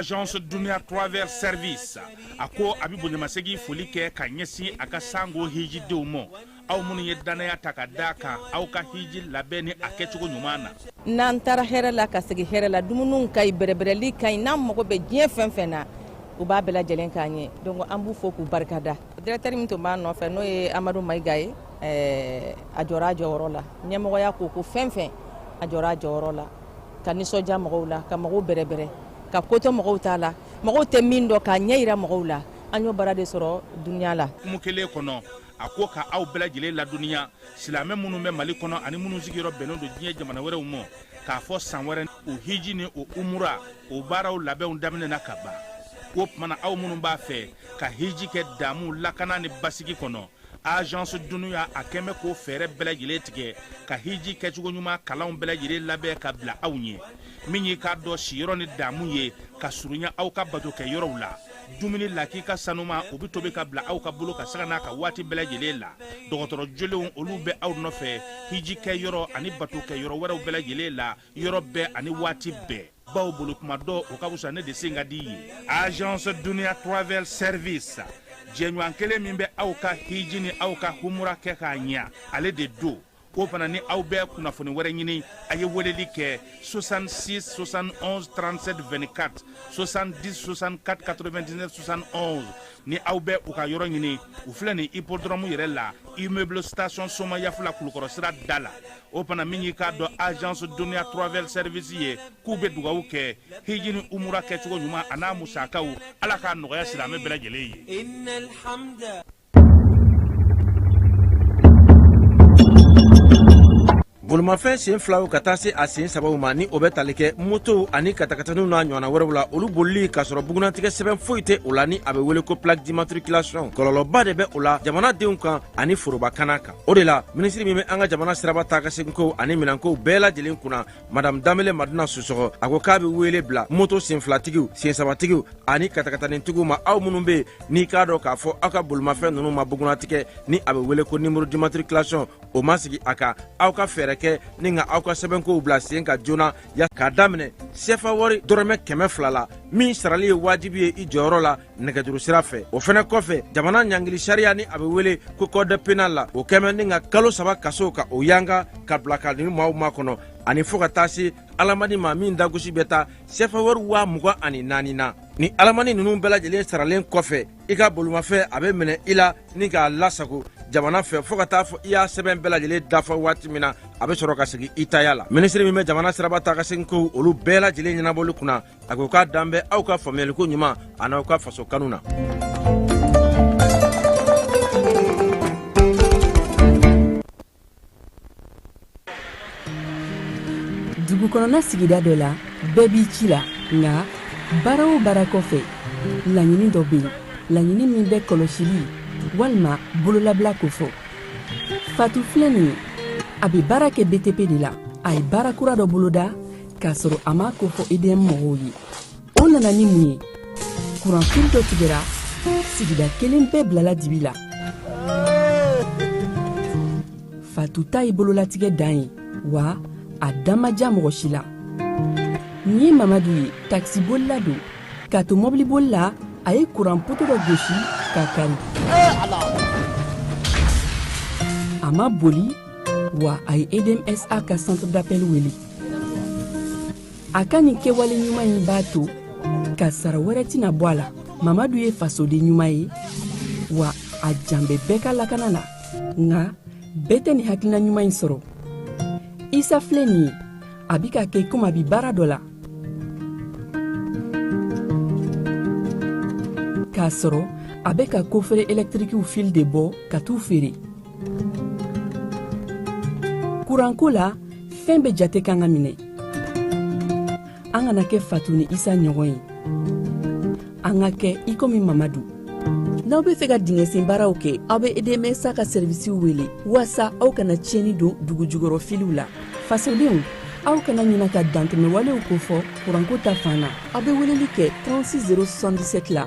agence dunia travel service a ko a bɛ bonyamasegin foli kɛ ka ɲɛsin a ka sango hijidenw ma aw minnu ye dannaya ta ka d'a kan aw ka hiji labɛn ni a kɛcogo ɲuman na n'an taara hɛrɛ la ka segin hɛrɛ la dumuniw ka ɲi bɛrɛbɛrɛli ka ɲi n'an mago bɛ diɲɛ fɛn fɛn na u b'a bɛɛ lajɛlen k'an ye donc an b'u fo k'u barika da directeur min tun b'a nɔfɛ n'o ye amadu maiga ye a jɔra a jɔyɔrɔ la ɲɛmɔgɔya ko o ko fɛn fɛn a jɔra a jɔyɔrɔ la ka nisɔndiya mɔgɔw la ka mɔgɔw bɛrɛbɛrɛ ka koto mɔgɔw ta la mɔgɔw tɛ min dɔn k'a ɲɛ jira mɔgɔw la an y'o baara de sɔrɔ dunia la kuma kelen kɔnɔ a ko ka aw bɛɛ lajɛlen ladɔnniya silamɛ minnu bɛ mali kɔnɔ ani minnu sigiyɔrɔ bɛnnen don diɲɛ jamana wɛrɛw ma k'a fɔ san wɛrɛ o hiji ni o umura o baaraw labɛnw daminɛna kaban o tuma na aw minnu b'a fɛ ka hiji kɛ damu lakana ni basigi kɔnɔ agence dunia a kɔni bɛ k'o fɛɛrɛ bɛɛ lajɛlen tigɛ ka hiji kɛcogo ɲuman kalanw bɛɛ lajɛlen labɛn ka bila aw ɲɛ min y'i k'a dɔn siyɔrɔ ni damu ye ka surunya aw ka bato kɛ yɔrɔw la dumuni lakika saniman o bɛ tobi ka bila aw ka bolo kan sanga n'a ka waati bɛɛ lajɛlen la dɔgɔtɔrɔ jolenw olu bɛ aw nɔfɛ hiji kɛ yɔrɔ ani bato kɛ yɔrɔ wɛrɛw bɛɛ lajɛlen la yɔrɔ bɛɛ ani waati bɛɛ bawo boli tuma dɔn o ka fisa ne de sen ka di ye agence dunia travel service jɛɲɔgɔn kelen min bɛ aw ka hiji ni aw ka humura kɛ k'a ɲɛ ale de don o fana ni aw bɛ kunnafoni wɛrɛ ɲini a ye weleli kɛ 66 71 37 24 70 64 99 71 ni aw bɛ u ka yɔrɔ ɲini u filɛ nin hippodrome yɛrɛ la immeuble station somayaf la kulukɔrɔ sira da la o fana min y'i k'a dɔn agence dunia travel service ye k'u bɛ dugawu kɛ hiji ni umura kɛcogo ɲuman an'a musakaw ala k'a nɔgɔya silamɛ bɛɛ lajɛlen ye bolimafɛn sen filaw ka taa se a sen sabaw ma ni o bɛ tali kɛ motow ani katakataniw n'a ɲɔgɔnna wɛrɛw la olu bolili k'a sɔrɔ bugunnatigɛ sɛbɛn foyi tɛ o la ni a bɛ wele ko plaque d'immatriculation kɔlɔlɔba de bɛ o la jamanadenw kan ani foroba kana kan o de la minisiri min bɛ an ka jamana siraba taa ka seginko ani minɛnkow bɛɛ lajɛlen kunna madam danbele madina susɔgɔ a ko k'a bɛ wele bila moto senfilatigiw sensabatigiw ani katakatanintigiw ma aw minnu bɛ yen n'i k'a dɔn k'a fɔ aw ka bolimafɛn ninnu ma bugunnatigɛ ni a bɛ wele ko nimoro dimatrikilasiyɔn o ma sigi a kan aw ka fɛɛrɛ kɛ ni ka aw ka sɛbɛnkow bila sen kan joona ya k'a daminɛ sefa wari dɔrɔmɛ kɛmɛ fila la min sarali ye wajibi ye i jɔyɔrɔ la nɛgɛjuru sira fɛ o fɛnɛ kɔfɛ jamana ɲangili sariya ni a bɛ wele ko code pénal la o kɛmɛ ni ka kalo saba kaso ka o yanga ka bila ka ni maaw makɔnɔ ani fɔɔ ka taa se alamani ma min dagosi bɛ taa sefa wari waa mugan ani naani na ni alamani ninnu bɛɛ lajɛlen saralen kɔfɛ i ka bolomafɛn a bɛ minɛ i la ni k'a lasago jamana fɛ fɔɔ ka taa fɔ i y'a sɛbɛn bɛɛ lajɛlen dafa waati min na a bɛ sɔrɔ ka segin i taya la minisiri min bɛ jamana siraba taa ka segin kow olu bɛɛ lajɛlen ɲɛnabɔli kunna a ko k'a dan bɛ aw ka faamuyaliko ɲuman an'aw ka faso kanu na dugukɔnɔna sigida dɔ la bɛɛ b'i ci la nka baara o baara kɔfɛ laɲini dɔ bɛ yen laɲini min bɛ kɔlɔsili walima bololabila kofɔ fatu filɛ nin ye a bɛ baara kɛ btp de la a ye baara kura dɔ boloda k'a sɔrɔ a m'a kofɔ edm mɔgɔw ye o nana ni mun ye kuranfili dɔ tigɛra sigida kelen bɛɛ bilala dibi la fatu ta ye bololatigɛ dan ye wa a dan ma diya mɔgɔ si la nin ye mamadu ye takisibolila don k'a to mɔbiliboli la a ye kuran poto dɔ gosi k'a kari a ma boli wa a ye edmsa ka centre d'appel wele a ka nin kɛwale ɲuman in b'a to kasaara wɛrɛ tɛna bɔ a la mamadu ye fasoden ɲuman ye wa a jan bɛ bɛɛ ka lakana la nka bɛɛ tɛ nin hakilina ɲuman in sɔrɔ isa filɛ nin ye a bi k'a kɛ komi a bi baara dɔ la k'a sɔrɔ a bɛ ka kofere ɛlɛtirikiw fili de bɔ ka t'u feere kuranko la fɛn bɛɛ jate kan ka minɛ an kana kɛ fatu ni isa ɲɔgɔn ye an ka kɛ i komi mamadu n'aw be fɛ ka dingɛsen baaraw kɛ aw be edmsa ka serivisiw wele waasa aw kana tiɲɛni don dugu jukɔrɔ filiw la fasodenw aw kana ɲina ka dantɛmɛwalew kofɔ kuranko ta fan na aw be weleli kɛ 36 077 la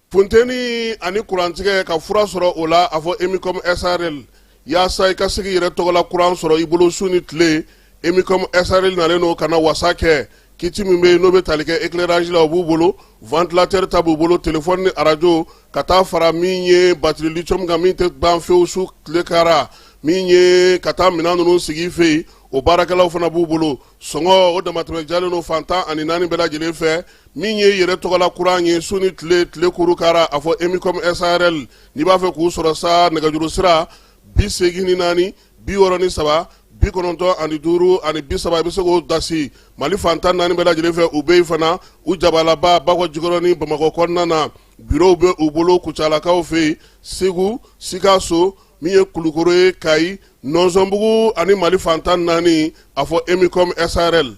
Funteni ani kurantigɛ ka fura sɔrɔ o la a fɔ emicom srl yaasa i ka se k'i yɛrɛ tɔgɔ la kuran sɔrɔ i bolo su ni tile emicom srl nalen don ka na wasa kɛ kiti min bɛ n'o bɛ tali kɛ éclairage la o b'u bolo ventilateur ta b'u bolo téléphone ni arajo ka taa fara min ye batiri lithium kan min tɛ ban fewu su tile kara min ye ka taa minɛn ninnu sigi i fɛ yen o baarakɛlaw fana b'u bolo sɔngɔ o damatɛmɛ jalen don fan tan ani naani bɛɛ lajɛlen fɛ min ye yɛrɛ tɔgɔla kuran ye su ni tile tile kuru kara a fɔ emicom srl n'i b'a fɛ k'u sɔrɔ sa nɛgɛjuru sira bi seegin ni naani bi wɔɔrɔ ni saba bi kɔnɔntɔn ani duuru ani bi saba i bɛ se k'o dasi mali fan tan naani bɛɛ lajɛlen fɛ u bɛ yen fana u jabalaba bakɔ jikɔrɔni bamakɔ kɔnɔna na Biro bɛ u bolo kucalakaw fɛ yen segu sikaso min ye kulukoro ye kayi nɔnzɔnbugu ani mali fantan naani a fɔ emicom SARL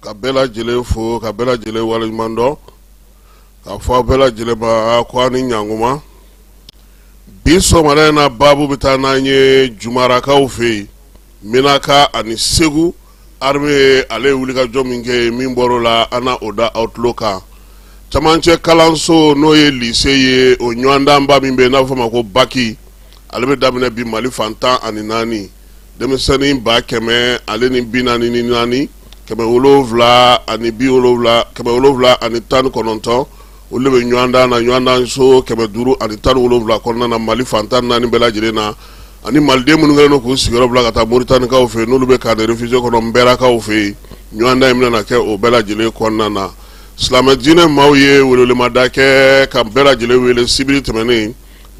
ka bɛɛ lajɛlen fo ka bɛɛ lajɛlen waleɲuman dɔn k'a fɔ a bɛɛ lajɛlen ma ko a ni ɲankuma bi sɔgɔmada in na baabu bɛ taa n'an ye jumarakaw fɛ yen minaka ani segu armée ale ye wulikajɔ min kɛ yen min bɔr'o la an na o da aw tulo kan camancɛ kalanso n'o ye lise ye o ɲɔgɔndanba min bɛ yen n'a bɛ fɔ o ma ko baki ale bɛ daminɛ bi mali fantan ani naani denmisɛnnin ba kɛmɛ ale ni bi naani ni naani kɛmɛ wolonwula ani bi wolonwula kɛmɛ wolonwula ani tan ni kɔnɔntɔn olu bɛ ɲɔgɔndan na ɲɔgɔndan so kɛmɛ duuru ani tan ni wolonwula kɔnɔna na mali fantan naani bɛɛ lajɛlen na ani maliden minnu kɛlen don k'u sigiyɔrɔ bila ka taa moritanikaw fɛ n'olu bɛ camp réfugié kɔnɔ nbɛrakaw fɛ yen ɲɔgɔndan in bɛna kɛ o bɛɛ lajɛlen kɔnɔna na silamɛ diinɛ maaw ye welewelemada kɛ ka bɛɛ lajɛlen wele sibiri tɛmɛnen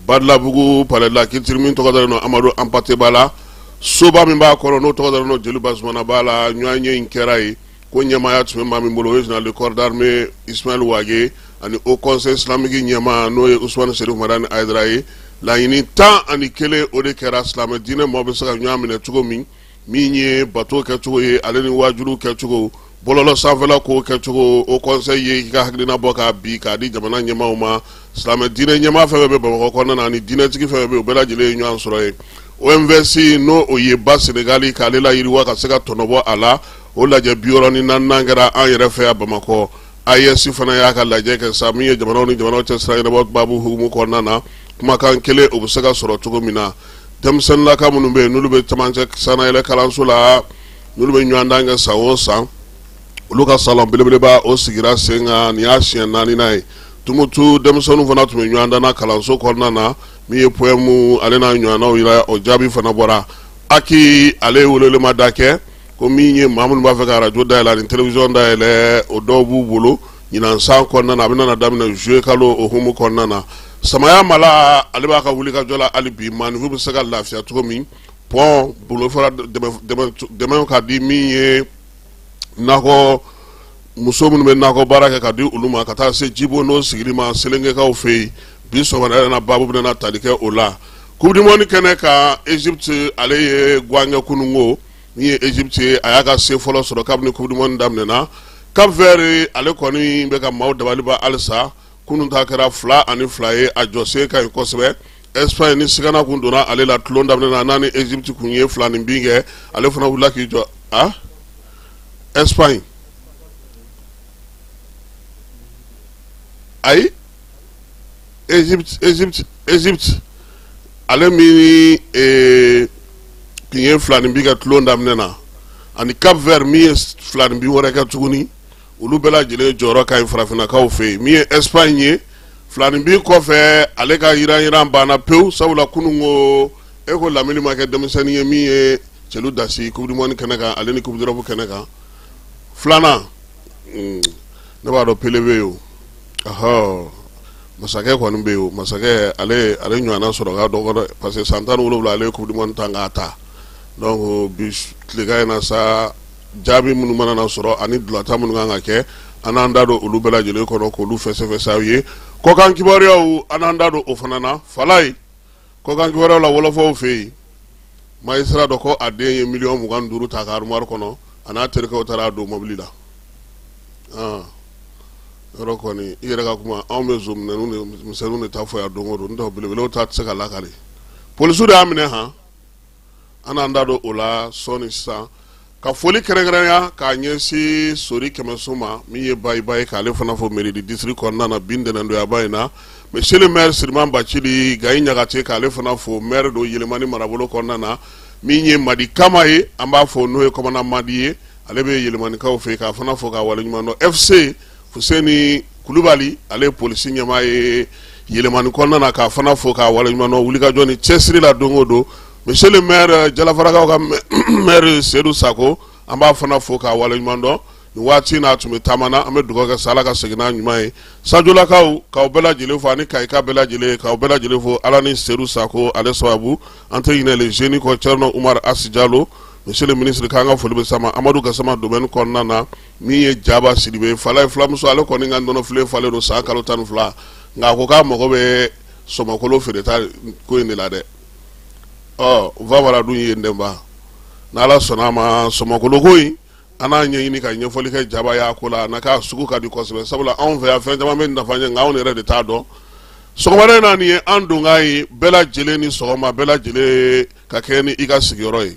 badalabugu palais de la culture min tɔgɔ dalen don amadu anpate ba la soba min b'a kɔnɔ n'o tɔgɔ dalen don jeli bazumanaba la ɲɔgɔnye in kɛra yen ko ɲɛmaaya tun bɛ maa min bolo o ye général de corps d'armée ismaël wage ani haut conseil islamique ɲɛmaa n'o ye usman sherifu madani ayidara ye laɲini tan ani kelen o de kɛra silamɛ diinɛ maaw bɛ se ka ɲɔgɔn minɛ cogo min min ye bato kɛcogo ye ale ni waajuli kɛcogo bɔlɔlɔ sanfɛla ko kɛcogo haut conseil ye i ka hakilina bɔ ka bi k'a di jamana ɲɛmaaw ma silamɛ diinɛ ɲɛmaa fɛn fɛn bɛ bamakɔ kɔnɔna na ni diinɛtigi fɛn fɛn bɛ u bɛɛ lajɛlen ye ɲɔgɔn sɔrɔ yen OMVS n'o ye ba senegali k'ale layiriwa ka se ka tɔnɔbɔ a la o lajɛ bi wɔɔrɔ ni naaninan kɛra an yɛrɛ fɛ yan bamakɔ AES fana y'a ka lajɛ kɛ sa min ye jamanaw ni jamanaw cɛ sira ɲɛnabɔ baabu hukumu kɔnɔna na kumakan kelen o bɛ se ka sɔrɔ cogo min na denmisɛnnin laka minnu bɛ yen n'olu bɛ camancɛ sanayɛlɛ kalanso la n'olu bɛ ɲɔgɔndan kɛ san o san olu ka salon belebeleba o sigira sen kan nin y'a siɲɛ naaninan ye tumutu denmisɛnninw fana tun bɛ ɲɔgɔndan na kalanso kɔnɔna na min ye pɔɛmu ale n'a ɲɔgɔnnaw yira o jaabi fana bɔra HAC ale ye welelemada kɛ ko min ye maa minnu b'a fɛ ka radio dayɛlɛ ani télévision dayɛlɛ o dɔw b'u bolo ɲinan san kɔnɔna na a bɛna daminɛ juillet kalo o humu kɔnɔna na samaya mala ale b'a ka wulikajɔ la hali bi maaninfinw bɛ se ka lafiya cogo min pont bolofara dɛmɛw ka di min ye nakɔ muso minnu bɛ nakɔ baara kɛ ka di olu ma ka taa se jibo n'o sigili ma selengekaw fɛ yen bi sɔgɔmada na baabu bɛna tali kɛ o la coupe du monde kɛnɛ kan Egypte ale ye guwan kɛ kununko min ye Egypte ye a y'a ka se fɔlɔ sɔrɔ kabini coupe du monde daminɛna Cap Vert ale kɔni bɛ ka maaw dabaliban halisa kunun ta kɛra 2 ani 2 ye a jɔsen ka ɲi kosɛbɛ Espagne ni sigana tun donna ale la tulon daminɛ na n'a ni Egypte tun ye filanin bin kɛ ale fana wulila k'i jɔ a Espagne ayi Egypte ale min tun ye filanin bi kɛ tulon daminɛ na ani Cap Vert min ye filanin bi wɛrɛ kɛ tuguni olu bɛɛ lajɛlen jɔyɔrɔ ka ɲi farafinnakaw fɛ yen min ye Espagne ye filanin bi kɔfɛ ale ka yiran yiran banna pewu sabula kunun ko e ko lamini ma kɛ denmisɛnnin ye min ye celu dasi coupe du monde kɛnɛ kan ale ni coupe d'Europe kɛnɛ kan filanan ne b'a dɔn Pele bɛ yen masakɛ kɔni bɛ yen o masakɛ ale ale ɲɔgɔnna sɔrɔ ka dɔgɔ parce que san tan ni wolonwula ale ye coupe du monde ta k'a ta donc bi tilegan in na sa jaabi minnu mana na sɔrɔ ani ntolatan minnu kan ka kɛ an n'an da don olu bɛɛ lajɛlen kɔnɔ k' olu fɛsɛfɛsɛ aw ye kɔkan kibaruyaw an n'an da don o fana na Falaye kɔkan kibaruyaw la wɔlɔfɔw fɛ yen magistrat dɔ ko a den ye miliyɔn mugan duuru ta a ka arumari kɔnɔ a n'a terikɛw taara a don mobili la ah. yɔrɔ kɔni i yɛrɛ ka kuma anw bɛ nson misɛnninw de ta fɔ yan don o don n'o tɛ belebelew ta tɛ se ka lakali polisiw de y'a minɛ han an n'an da don o la sɔɔni sisan ka foli kɛrɛnkɛrɛnya k'a ɲɛsin sori kɛmɛso ma min ye bayiba ye k'ale fana fo mairie du district kɔnɔna na bi ntɛnɛndoyaba in na monsieur le maire siriman bacili gayi ɲagate k'ale fana fo maire don yɛlɛmani marabolo kɔnɔna na min ye madi kama ye an b'a fɔ n'o ye commandant madi ye ale bɛ yɛlɛmanikaw fɛ k'a fana fo k'a waleɲuman dɔn fc Fuseni kulubali ale ye polisi ɲɛmaa ye yɛlɛmani kɔnɔna na k'a fana fo k'a waleɲumandɔn wulikajɔ ni cɛsiri la don o don monsieur le maire jalafarakaw ka maire sedu sako an b'a fana fo k'a waleɲumandɔn nin waati n'a tun bɛ taama na an bɛ dugawu kɛ sa ala ka segin n'a ɲuman ye sajolakaw k'aw bɛɛ lajɛlen fo ani kayikaw bɛɛ lajɛlen k'aw bɛɛ lajɛlen fo ala ni sedu sako ale sababu an tɛ ɲinɛ le jeune kɔ cɛrno umar Hass Diallo monsieur le ministre k'an ka foli bɛ s'a ma amadu gasama domaine kɔnɔna na min ye jaba Sidibe Falaye filamuso ale kɔni ka nɔnɔ filen falen don san kalo tan ni fila nka a ko k'a mago bɛ sɔmɔkolo feereta ko in de la dɛ ɔ fa dun ye denba n' ala sɔnna a ma sɔmɔkoloko in an n'a ɲɛɲini ka ɲɛfɔli kɛ jaba y'a ko la na k'a sugu ka di kosɛbɛ sabula anw fɛ yan fɛn caman bɛ nafa ɲɛ anw yɛrɛ de t'a dɔn sɔgɔmada in na nin ye an donkan ye bɛɛ lajɛlen ni sɔgɔma bɛɛ lajɛlen ka kɛnɛ i ka sigiyɔrɔ ye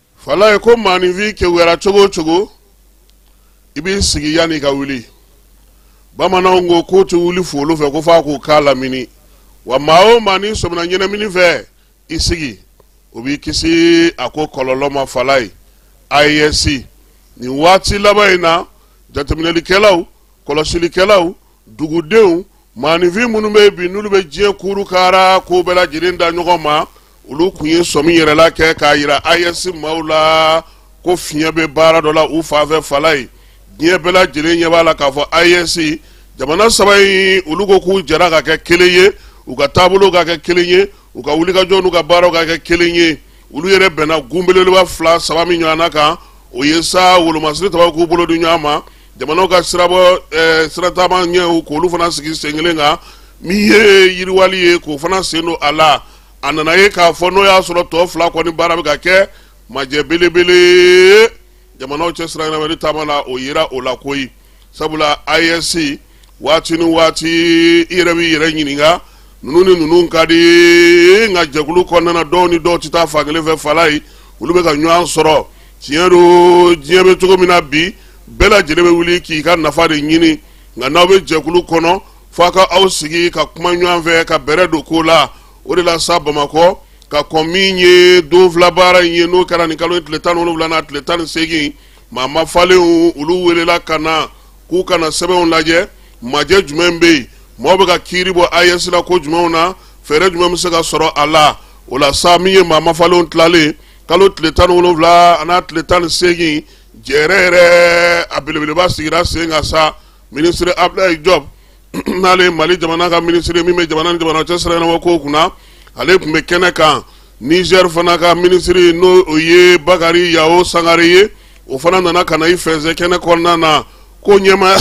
falaye ko maaninfin kewuyara cogo o cogo i b'i sigi yanni i ka wuli bamananw ko k'u tɛ wuli folo fɛ ko f'a k'u k'a lamini wa maa o maa n'i sɔmina ɲɛnamini fɛ i sigi o b'i kisi a ko kɔlɔlɔ ma falaye AES nin waati laban in na jateminɛlikɛlaw kɔlɔsilikɛlaw dugudenw Maaninfin minnu bɛ yen bi n'olu bɛ diɲɛ kurukara k'o bɛɛ lajɛlen da ɲɔgɔn ma olu kun ye sɔmi yɛrɛla kɛ k'a yira AES maaw la ko fiɲɛ bɛ baara dɔ la u fanfɛ falaye diɲɛ bɛɛ lajɛlen ɲɛ b'a la k'a fɔ AES jamana saba in olu ko k'u jɛra ka kɛ kelen ye u ka taabolo ka kɛ kelen ye u ka wulikajɔ n'u ka baaraw ka kɛ kelen ye olu yɛrɛ bɛnna gun belebeleba fila saba min ɲɔgɔnna kan o ye sa wolomasiri taba k'u bolo di ɲɔgɔn ma jamanaw ka sirabɔ eh, sirataama ɲɛw k'olu fana sigi sen kelen kan min ye yiriwali ye k'o fana sen don a la a nana ye k'a fɔ n'o y'a sɔrɔ tɔ fila kɔni baara bɛ ka kɛ majɛ belebele jamanaw cɛ siranyɛnamani taama na o yera o la koyi sabula AES waati ni waati i yɛrɛ b'i yɛrɛ ɲininka ninnu ni ninnu ka di nka jɛkulu kɔnɔna dɔw ni dɔw tɛ taa fan kelen fɛ falaye olu bɛ ka ɲɔgɔn sɔrɔ tiɲɛ don diɲɛ bɛ cogo min na bi bɛɛ lajɛlen bɛ wuli k'i ka nafa de ɲini nka n'aw bɛ jɛkulu kɔnɔ f'a ka aw sigi ka kuma ɲɔgɔn fɛ ka bɛrɛ don ko la o de la sa bamakɔ ka kɔn min ye don fila baara in ye n'o kɛra nin kalo tile tan wolonwula n'a tile tan ni seegin maa mafalenw olu welela ka na k'u ka na sɛbɛnw lajɛ majɛ jumɛn bɛ yen mɔgɔw bɛ ka kiiri bɔ AES la ko jumɛnw na fɛɛrɛ jumɛn bɛ se ka sɔrɔ a la o la sa min ye maa mafalenw tilalen kalo tile tan wolonwula n'a tile tan ni seegin jɛrɛ yɛrɛ a belebeleba sigira sen kan sa minisiri abudulayi jɔbu n'ale mali jamana ka minisiri min bɛ jamana ni jamana cɛ siraɲɛnabɔ kow kunna ale tun bɛ kɛnɛ kan nizɛri fana ka minisiri n'o o ye bakari yao sangare ye o fana nana ka na i fɛnsɛ kɛnɛ kɔnɔna na ko ɲɛmaaya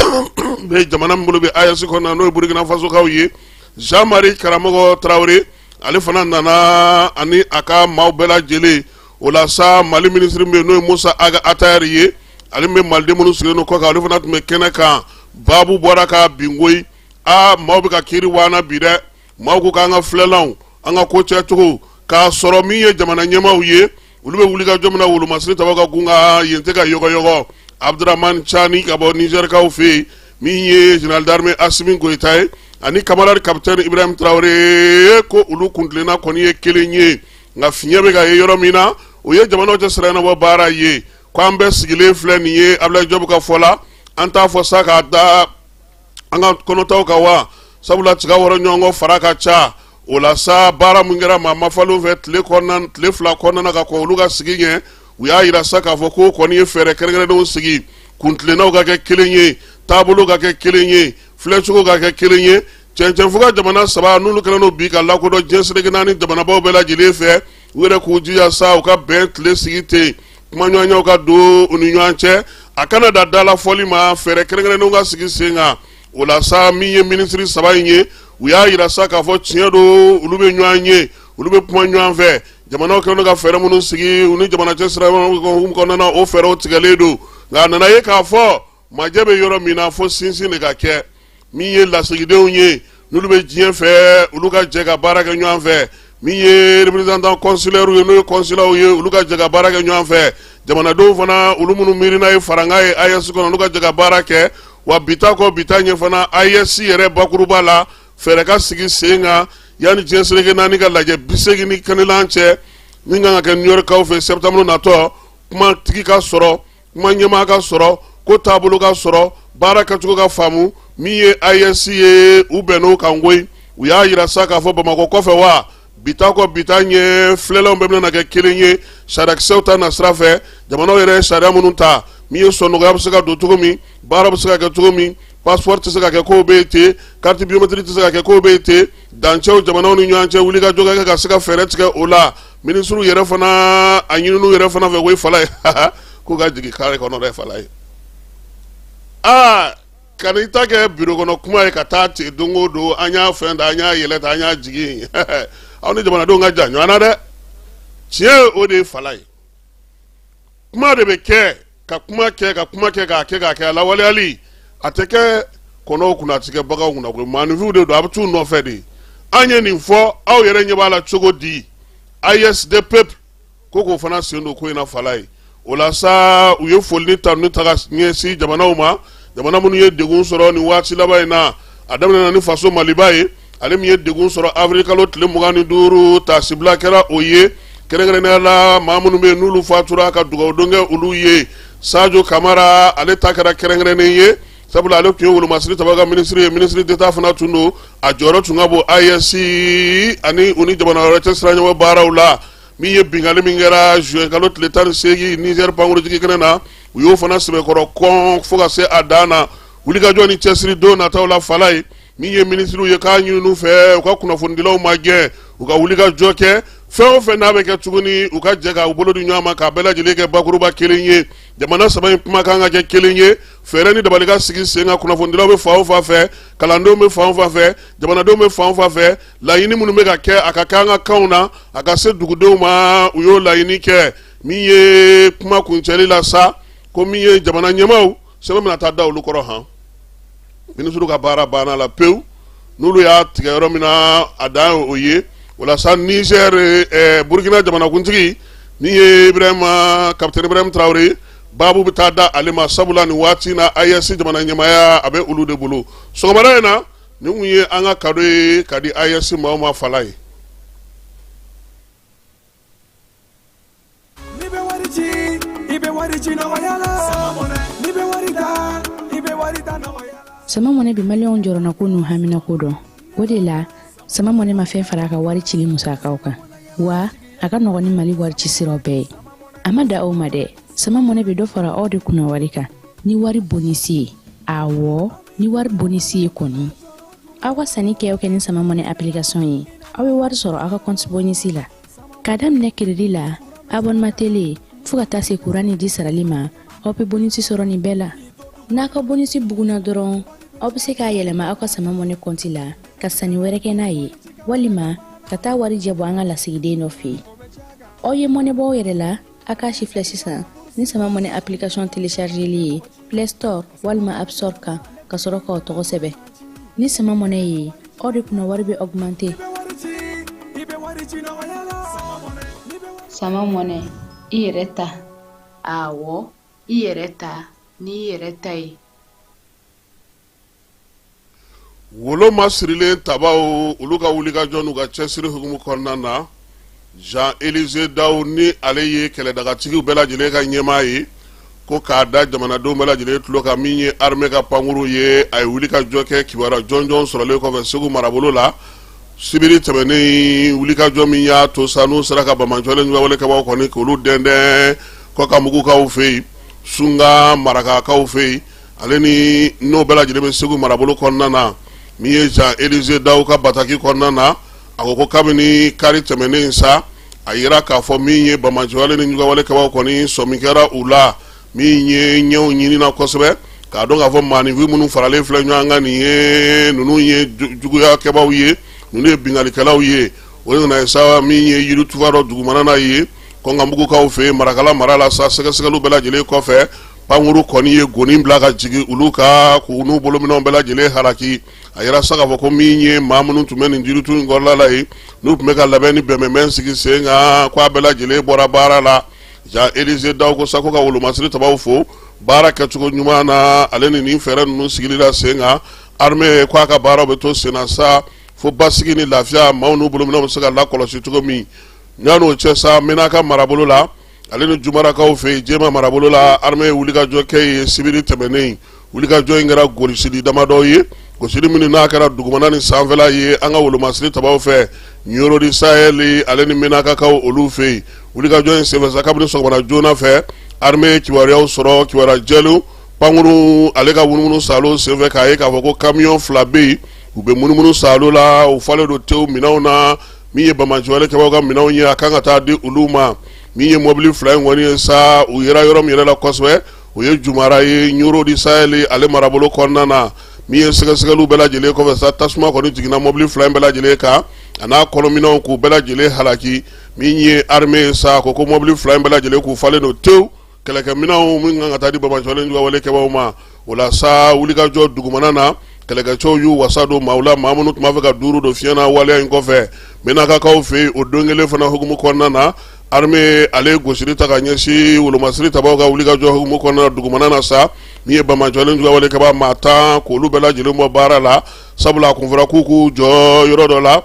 bɛ jamana min bolo bɛ AES kɔnɔna n'o ye burukinafasokaw ye zanmari karamɔgɔ tarawele ale fana nana ani a ka maaw bɛɛ lajɛlen o la sa mali minisiri min bɛ n'o ye musa aga atayɛri ye ale bɛ maliden minnu sigilen don kɔkan ale fana tun bɛ kɛnɛ kan baabu bɔra ka bin koyi aa maaw bɛ ka kiiri waana bi dɛ maaw ko k'an ka filɛlanw an ka ko cɛcogo k'a sɔrɔ min ye jamana ɲɛmaaw ye olu bɛ wulikajɔ min na wolomasiri tabaw ka gun kan yen tɛ ka yɔgɔyɔgɔ abudurahmani cani ka bɔ nizɛrikaw fɛ yen min ye jenerali darime asimi goyita ye ani kamaradi kapitɛni ibrahim tarawele ko olu kuntilenna kɔni ye kelen ye nka fiɲɛ bɛ ka ye yɔrɔ min na o ye jamanaw cɛ siraɲɛnabɔ baara ye ko an bɛɛ sigilen filɛ nin ye abudulayi jɔbu ka fɔ la an t'a fɔ sa k'a da an ka kɔnɔtaw kan wa sabula tiga wɔrɔ ɲɔgɔn kɔ fara ka ca o la sa baara min kɛra maa mafalenw fɛ tile ɔn tile fila kɔnɔna ka kɔn olu ka sigi ɲɛ u y'a yira sa k'a fɔ k'o kɔni ye fɛɛrɛ kɛrɛnkɛrɛnnenw sigi kuntilennaw ka kɛ kelen ye taabolow ka kɛ kelen ye filɛcogow ka kɛ kelen ye cɛncɛnfuga jamana saba n'olu kɛlen don bi ka lakodɔn diɲɛ seleke naani jamanabaaw bɛɛ lajɛlen fɛ u yɛrɛ k'u jija sa u ka bɛn tile sigi ten kumaɲɔgɔnyaw ka don u ni ɲɔgɔn cɛ a kana da dalafɔli ma fɛɛrɛ kɛrɛnkɛrɛnnenw ka sigi sen kan o la sa min ye minisiri saba in ye u y'a yira sa k'a fɔ tiɲɛ don olu bɛ ɲɔgɔn ye olu bɛ kuma ɲɔgɔn fɛ jamanaw kɛlen don ka fɛɛrɛ minnu sigi u ni jamana cɛ sira kɔnɔna o fɛɛrɛw tigɛlen don nka a nana ye k'a fɔ majɛ bɛ yɔrɔ min na fo sinsin de ka kɛ min ye lasigidenw ye n'olu bɛ diɲɛ fɛ olu ka jɛ ka baara kɛ ɲɔgɔn fɛ min ye représentant consulaire ye n'o ye consulaw ye olu ka jɛ ka baara kɛ ɲɔgɔn fɛ jamanadenw fana olu minnu miirina ye faranga ye AES kɔnɔ olu ka jɛ ka baara kɛ wa bita kɔ bita ɲɛ fana AES yɛrɛ bakuruba la fɛɛrɛ ka sigi sen kan yanni diɲɛ seleke naani ka lajɛ bi seegin ni kelennan cɛ min kan ka kɛ New York kaw fɛ septembre natɔ kumatigi ka sɔrɔ kuma ɲɛmaa ka sɔrɔ ko taabolo ka sɔrɔ baara kɛcogo ka faamu min ye AES ye u bɛnn'o kan koyi u y'a yira sa k'a fɔ Bamakɔ kɔfɛ wa bita kɔ bita ɲɛ filɛlanw bɛɛ bɛna kɛ kelen ye sariyakisɛw ta nasira fɛ jamanaw yɛrɛ ye sariya minnu ta min ye sɔnnɔgɔya bɛ se ka don cogo min baara bɛ se ka kɛ cogo min passeport tɛ se ka kɛ kow bɛ yen ten carte biométrique tɛ se ka kɛ kow bɛ yen ten dancɛw jamanaw ni ɲɔgɔn cɛ wulikajɔ ka kɛ ka se ka fɛɛrɛ tigɛ o la Ministrew yɛrɛ fana a ɲinin'u yɛrɛ fana fɛ koyi Falaye k'u ka jigin carré kɔnɔ dɛ Falaye aa kan'i ta kɛ bureau kɔnɔ kuma ye ka taa ten don o don an y'a fɛn da an y'a yɛlɛ ta an y'a jigin aw ni jamanadenw ka jan ɲɔgɔn na dɛ tiɲɛ o de ye Falaye kuma de bɛ kɛ ka kuma kɛ ka kuma kɛ k'a kɛ k'a kɛ a lawaleyali a tɛ kɛ kɔnɔw kunna a tɛ kɛ baganw kunna koyi maaninfinw de don a bɛ t'u nɔfɛ de an ye nin fɔ aw yɛrɛ ɲɛ b'a la cogo di AES des peuples ko k'o fana sen don ko in na Falaye o la sa u ye foli ni tanuni ta ka ɲɛsin jamanaw ma jamana minnu ye degun sɔrɔ nin waati laban in na a daminɛna ni faso Maliba ye ale min ye degun sɔrɔ awirili kalo tile mugan ni duuru taasibila kɛra o ye kɛrɛnkɛrɛnnenya la maa minnu bɛ n'olu fatura ka dugawudon kɛ olu ye Sajo Kamara ale ta kɛra kɛrɛnkɛrɛnnen ye sabula ale tun ye wolomasiri tabaa ka minisiri ye minisiri d'État fana tun don a jɔyɔrɔ tun ka bon AES ani u ni jamana wɛrɛ cɛ siraɲɔgɔn baaraw la min ye binkanli min kɛra zuwɛn kalo tile tan ni seegin Nizɛri pankurunjigin kɛnɛ na u y'o fana sɛbɛkɔrɔ kɔn fo ka se a dan na wulikajɔ ni cɛsiri don nataw la Falaye min ye minisiriw ye k'a ɲini u fɛ u ka kunnafonidilaw magɛn u ka wulikajɔ kɛ fɛn o fɛn n'a bɛ kɛ tuguni u ka jɛ k'u bolo di ɲɔgɔn ma k'a bɛɛ lajɛlen kɛ bakuruba kelen ye jamana saba in kumakan ka kɛ kelen ye fɛɛrɛ ni dabali ka sigi sen kan kunnafonidilaw bɛ fan o fan fɛ kalandenw bɛ fan o fan fɛ jamanadenw bɛ fan o fan fɛ laɲini minnu bɛ ka kɛ a ka kɛ an ka kanw na a ka se dugudenw ma u y'o laɲini kɛ min ye kuma kuncɛli la sa ko min ye jamana ɲɛmaaw sɛbɛn bɛna taa da olu kɔrɔ han minisiri ka baara banna la pewu n'olu y'a tigɛ yɔrɔ min na a dan ye o ye walasa nizɛr eh, burukina jamanakuntigi min ye ibrahima kapitɛni ibrahima tarawele baabu bɛ taa da ale ma sabula nin waati na aes jamana ɲɛmaaya a bɛ olu de bolo sɔgɔmada in na nin tun ye an ka kado ye ka di aes maaw ma fala ye N'i bɛ wari ci i bɛ wari ci nɔgɔya la n'i bɛ wari ta i bɛ wari ta nɔgɔya la. sama mɔnɛ bi maliyɛnw jɔrɔnako n'u haminako dɔn o de la sama mɔnɛ ma fɛn fara a ka wari cili musakaw kan wa a ka nɔgɔn ni mali wari ci siraw bɛɛ ye a ma dan o ma dɛ sama mɔnɛ bɛ dɔ fara aw de kunna wari kan ni wari bonisi ye awɔ ni wari bonisi ye kɔni aw ka sanni kɛ o kɛ ni sama mɔnɛ application ye aw bɛ wari sɔrɔ aw ka kɔnti bonisi la k'a daminɛ crédit la abonnement télé fɔɔ ka taa se kuran ni ji sarali ma aw bɛ bonisi sɔrɔ nin bɛɛ la n'a ka bonisi buguna dɔrɔn aw bɛ se k'a yɛlɛma aw ka sama mɔnɛ kɔnti la ka sanni wɛrɛ kɛ n'a ye walima ka taa warijɛ bɔ an ka lasigiden dɔ fɛ aw ye mɔnɛ bɔ aw yɛrɛ la a k'a sifilɛ sisan ni sama mɔnɛ application téléchargeli ye play store walima app store kan ka sɔrɔ k'aw tɔgɔ sɛbɛn ni sama mɔnɛ ye aw de kunna wari bɛ augmenter sama mɔnɛ i yɛrɛ ta awɔ i yɛrɛ ta n'i yɛrɛ ta ye wolo ma sirilen tabaw olu ka wulikajɔ n'u ka cɛsiri hukumu kɔnɔna na zan elize dao ni ale ye kɛlɛdagatigiw bɛɛ lajɛlen ka ɲɛmaa ye ko k'a da jamanadenw bɛɛ lajɛlen tulo kan min ye arime ka pankurun ye a ye wulikajɔ kɛ kibaru jɔnjɔn sɔrɔlen kɔfɛ segu marabolo la sibiri tɛmɛnen wulikajɔ min y'a to sa n'u sera ka banbaanci wale ni jugu wale kɛbaw kɔni k'olu dɛndɛn kɔnkanbugukaw fɛ yen sunka marakakaw fɛ yen ale ni n'o bɛɛ lajɛlen bɛ segu marabolo kɔnɔna na min ye zan elize dao ka bataki kɔnɔna na a ko ko kabini kari tɛmɛnen sa a jira k'a fɔ min ye banbaanci wale ni jugu wale kɛbaw kɔni sɔmi kɛra u la min ye ɲɛw ɲinina kosɛbɛ k'a dɔn k'a fɔ maaninfin minnu faralen filɛ ɲɔgɔn kan nin ye ninnu ye juguya kɛbaw ye ninnu ye binkalikɛlaw ye o nana ye sa min ye yirituba dɔ dugumana na yen kɔnkanbugukaw fɛ marakala mara la sa sɛgɛsɛgɛli bɛɛ lajɛlen kɔfɛ pankuru kɔni ye goni bila ka jigin olu kan k'u n'u bolominɛnw bɛɛ lajɛlen halaki a yira sa k'a fɔ ko min ye maa minnu tun bɛ nin jiritu in kɔrɔla la ye n'u tun bɛ ka labɛn ni bɛnbɛn sigi sen kan k' a bɛɛ lajɛlen bɔra baara la Jean Élisée Dao ko sa ko ka wolomasiri tabaw fo baara kɛcogo ɲuman na ale ni nin fɛɛrɛ ninnu sigili la sen kan armée k' a ka baaraw bɛ to sen sa fo basigi ni lafiya maaw n'u bolominɛnw bɛ se ka lakɔlɔsi cogo min na n'o cɛ sa menaka marabolo la ale ni jumarakaw fɛ yen jɛma marabolo la armée ye wulikajɔ kɛ yen sibiri tɛmɛnen wulikajɔ in kɛra golisili damadɔ ye gosili minnu n'a kɛra dugumana ni sanfɛla ye an ka wolomasiri tabaw fɛ nyoro di sahɛli ale ni menakakaw olu fɛ yen wulikajɔ in senfɛ sa kabini sɔgɔmada joona fɛ armée ye kibaruyaw sɔrɔ kibaruya jɛlenw pankuru ale ka munumunu saalo senfɛ k'a ye k'a fɔ ko kamiyɔn fila bɛ yen u bɛ munumunu saalo la u falen don tewu minɛnw na min ye banbaanciwale kɛbaw ka minɛnw ye a kan ka taa di olu ma min ye mɔbili fila in kɔni ye sa u yera yɔrɔ min yɛrɛ la kosɛbɛ o ye jumara ye ɲoro di sahɛli ale marabolo kɔnɔna na min ye sɛgɛsɛgɛliw bɛɛ lajɛlen kɔfɛ sa tasuma kɔni jiginna mɔbili fila in bɛɛ lajɛlen kan a n'a kɔnɔminɛnw k'u bɛɛ lajɛlen halaki min ye armée ye sa ko ko mɔbili fila in bɛɛ lajɛlen k'u falen don tewu kɛlɛkɛminɛnw minnu kan ka taa di banbaanci juguwale kɛbaw ma o la sa wulikajɔ dugumana na kɛlɛkɛcɛw y'u wasa don maaw la maa minnu tun b'a fɛ ka duuru don fiɲɛ na waleya in kɔfɛ menakakaw fɛ yen o don kelen fana hukumu kɔnɔna na armée ale ye gosili ta ka ɲɛsin wolomasiri tabaw ka wulikajɔ hukumu kɔnɔna dugumana na sa min ye banbaanci juguwale kɛba maa tan k'olu bɛɛ lajɛlen bɔ baara la sabula a kun fɔra k'u k'u jɔ yɔrɔ dɔ la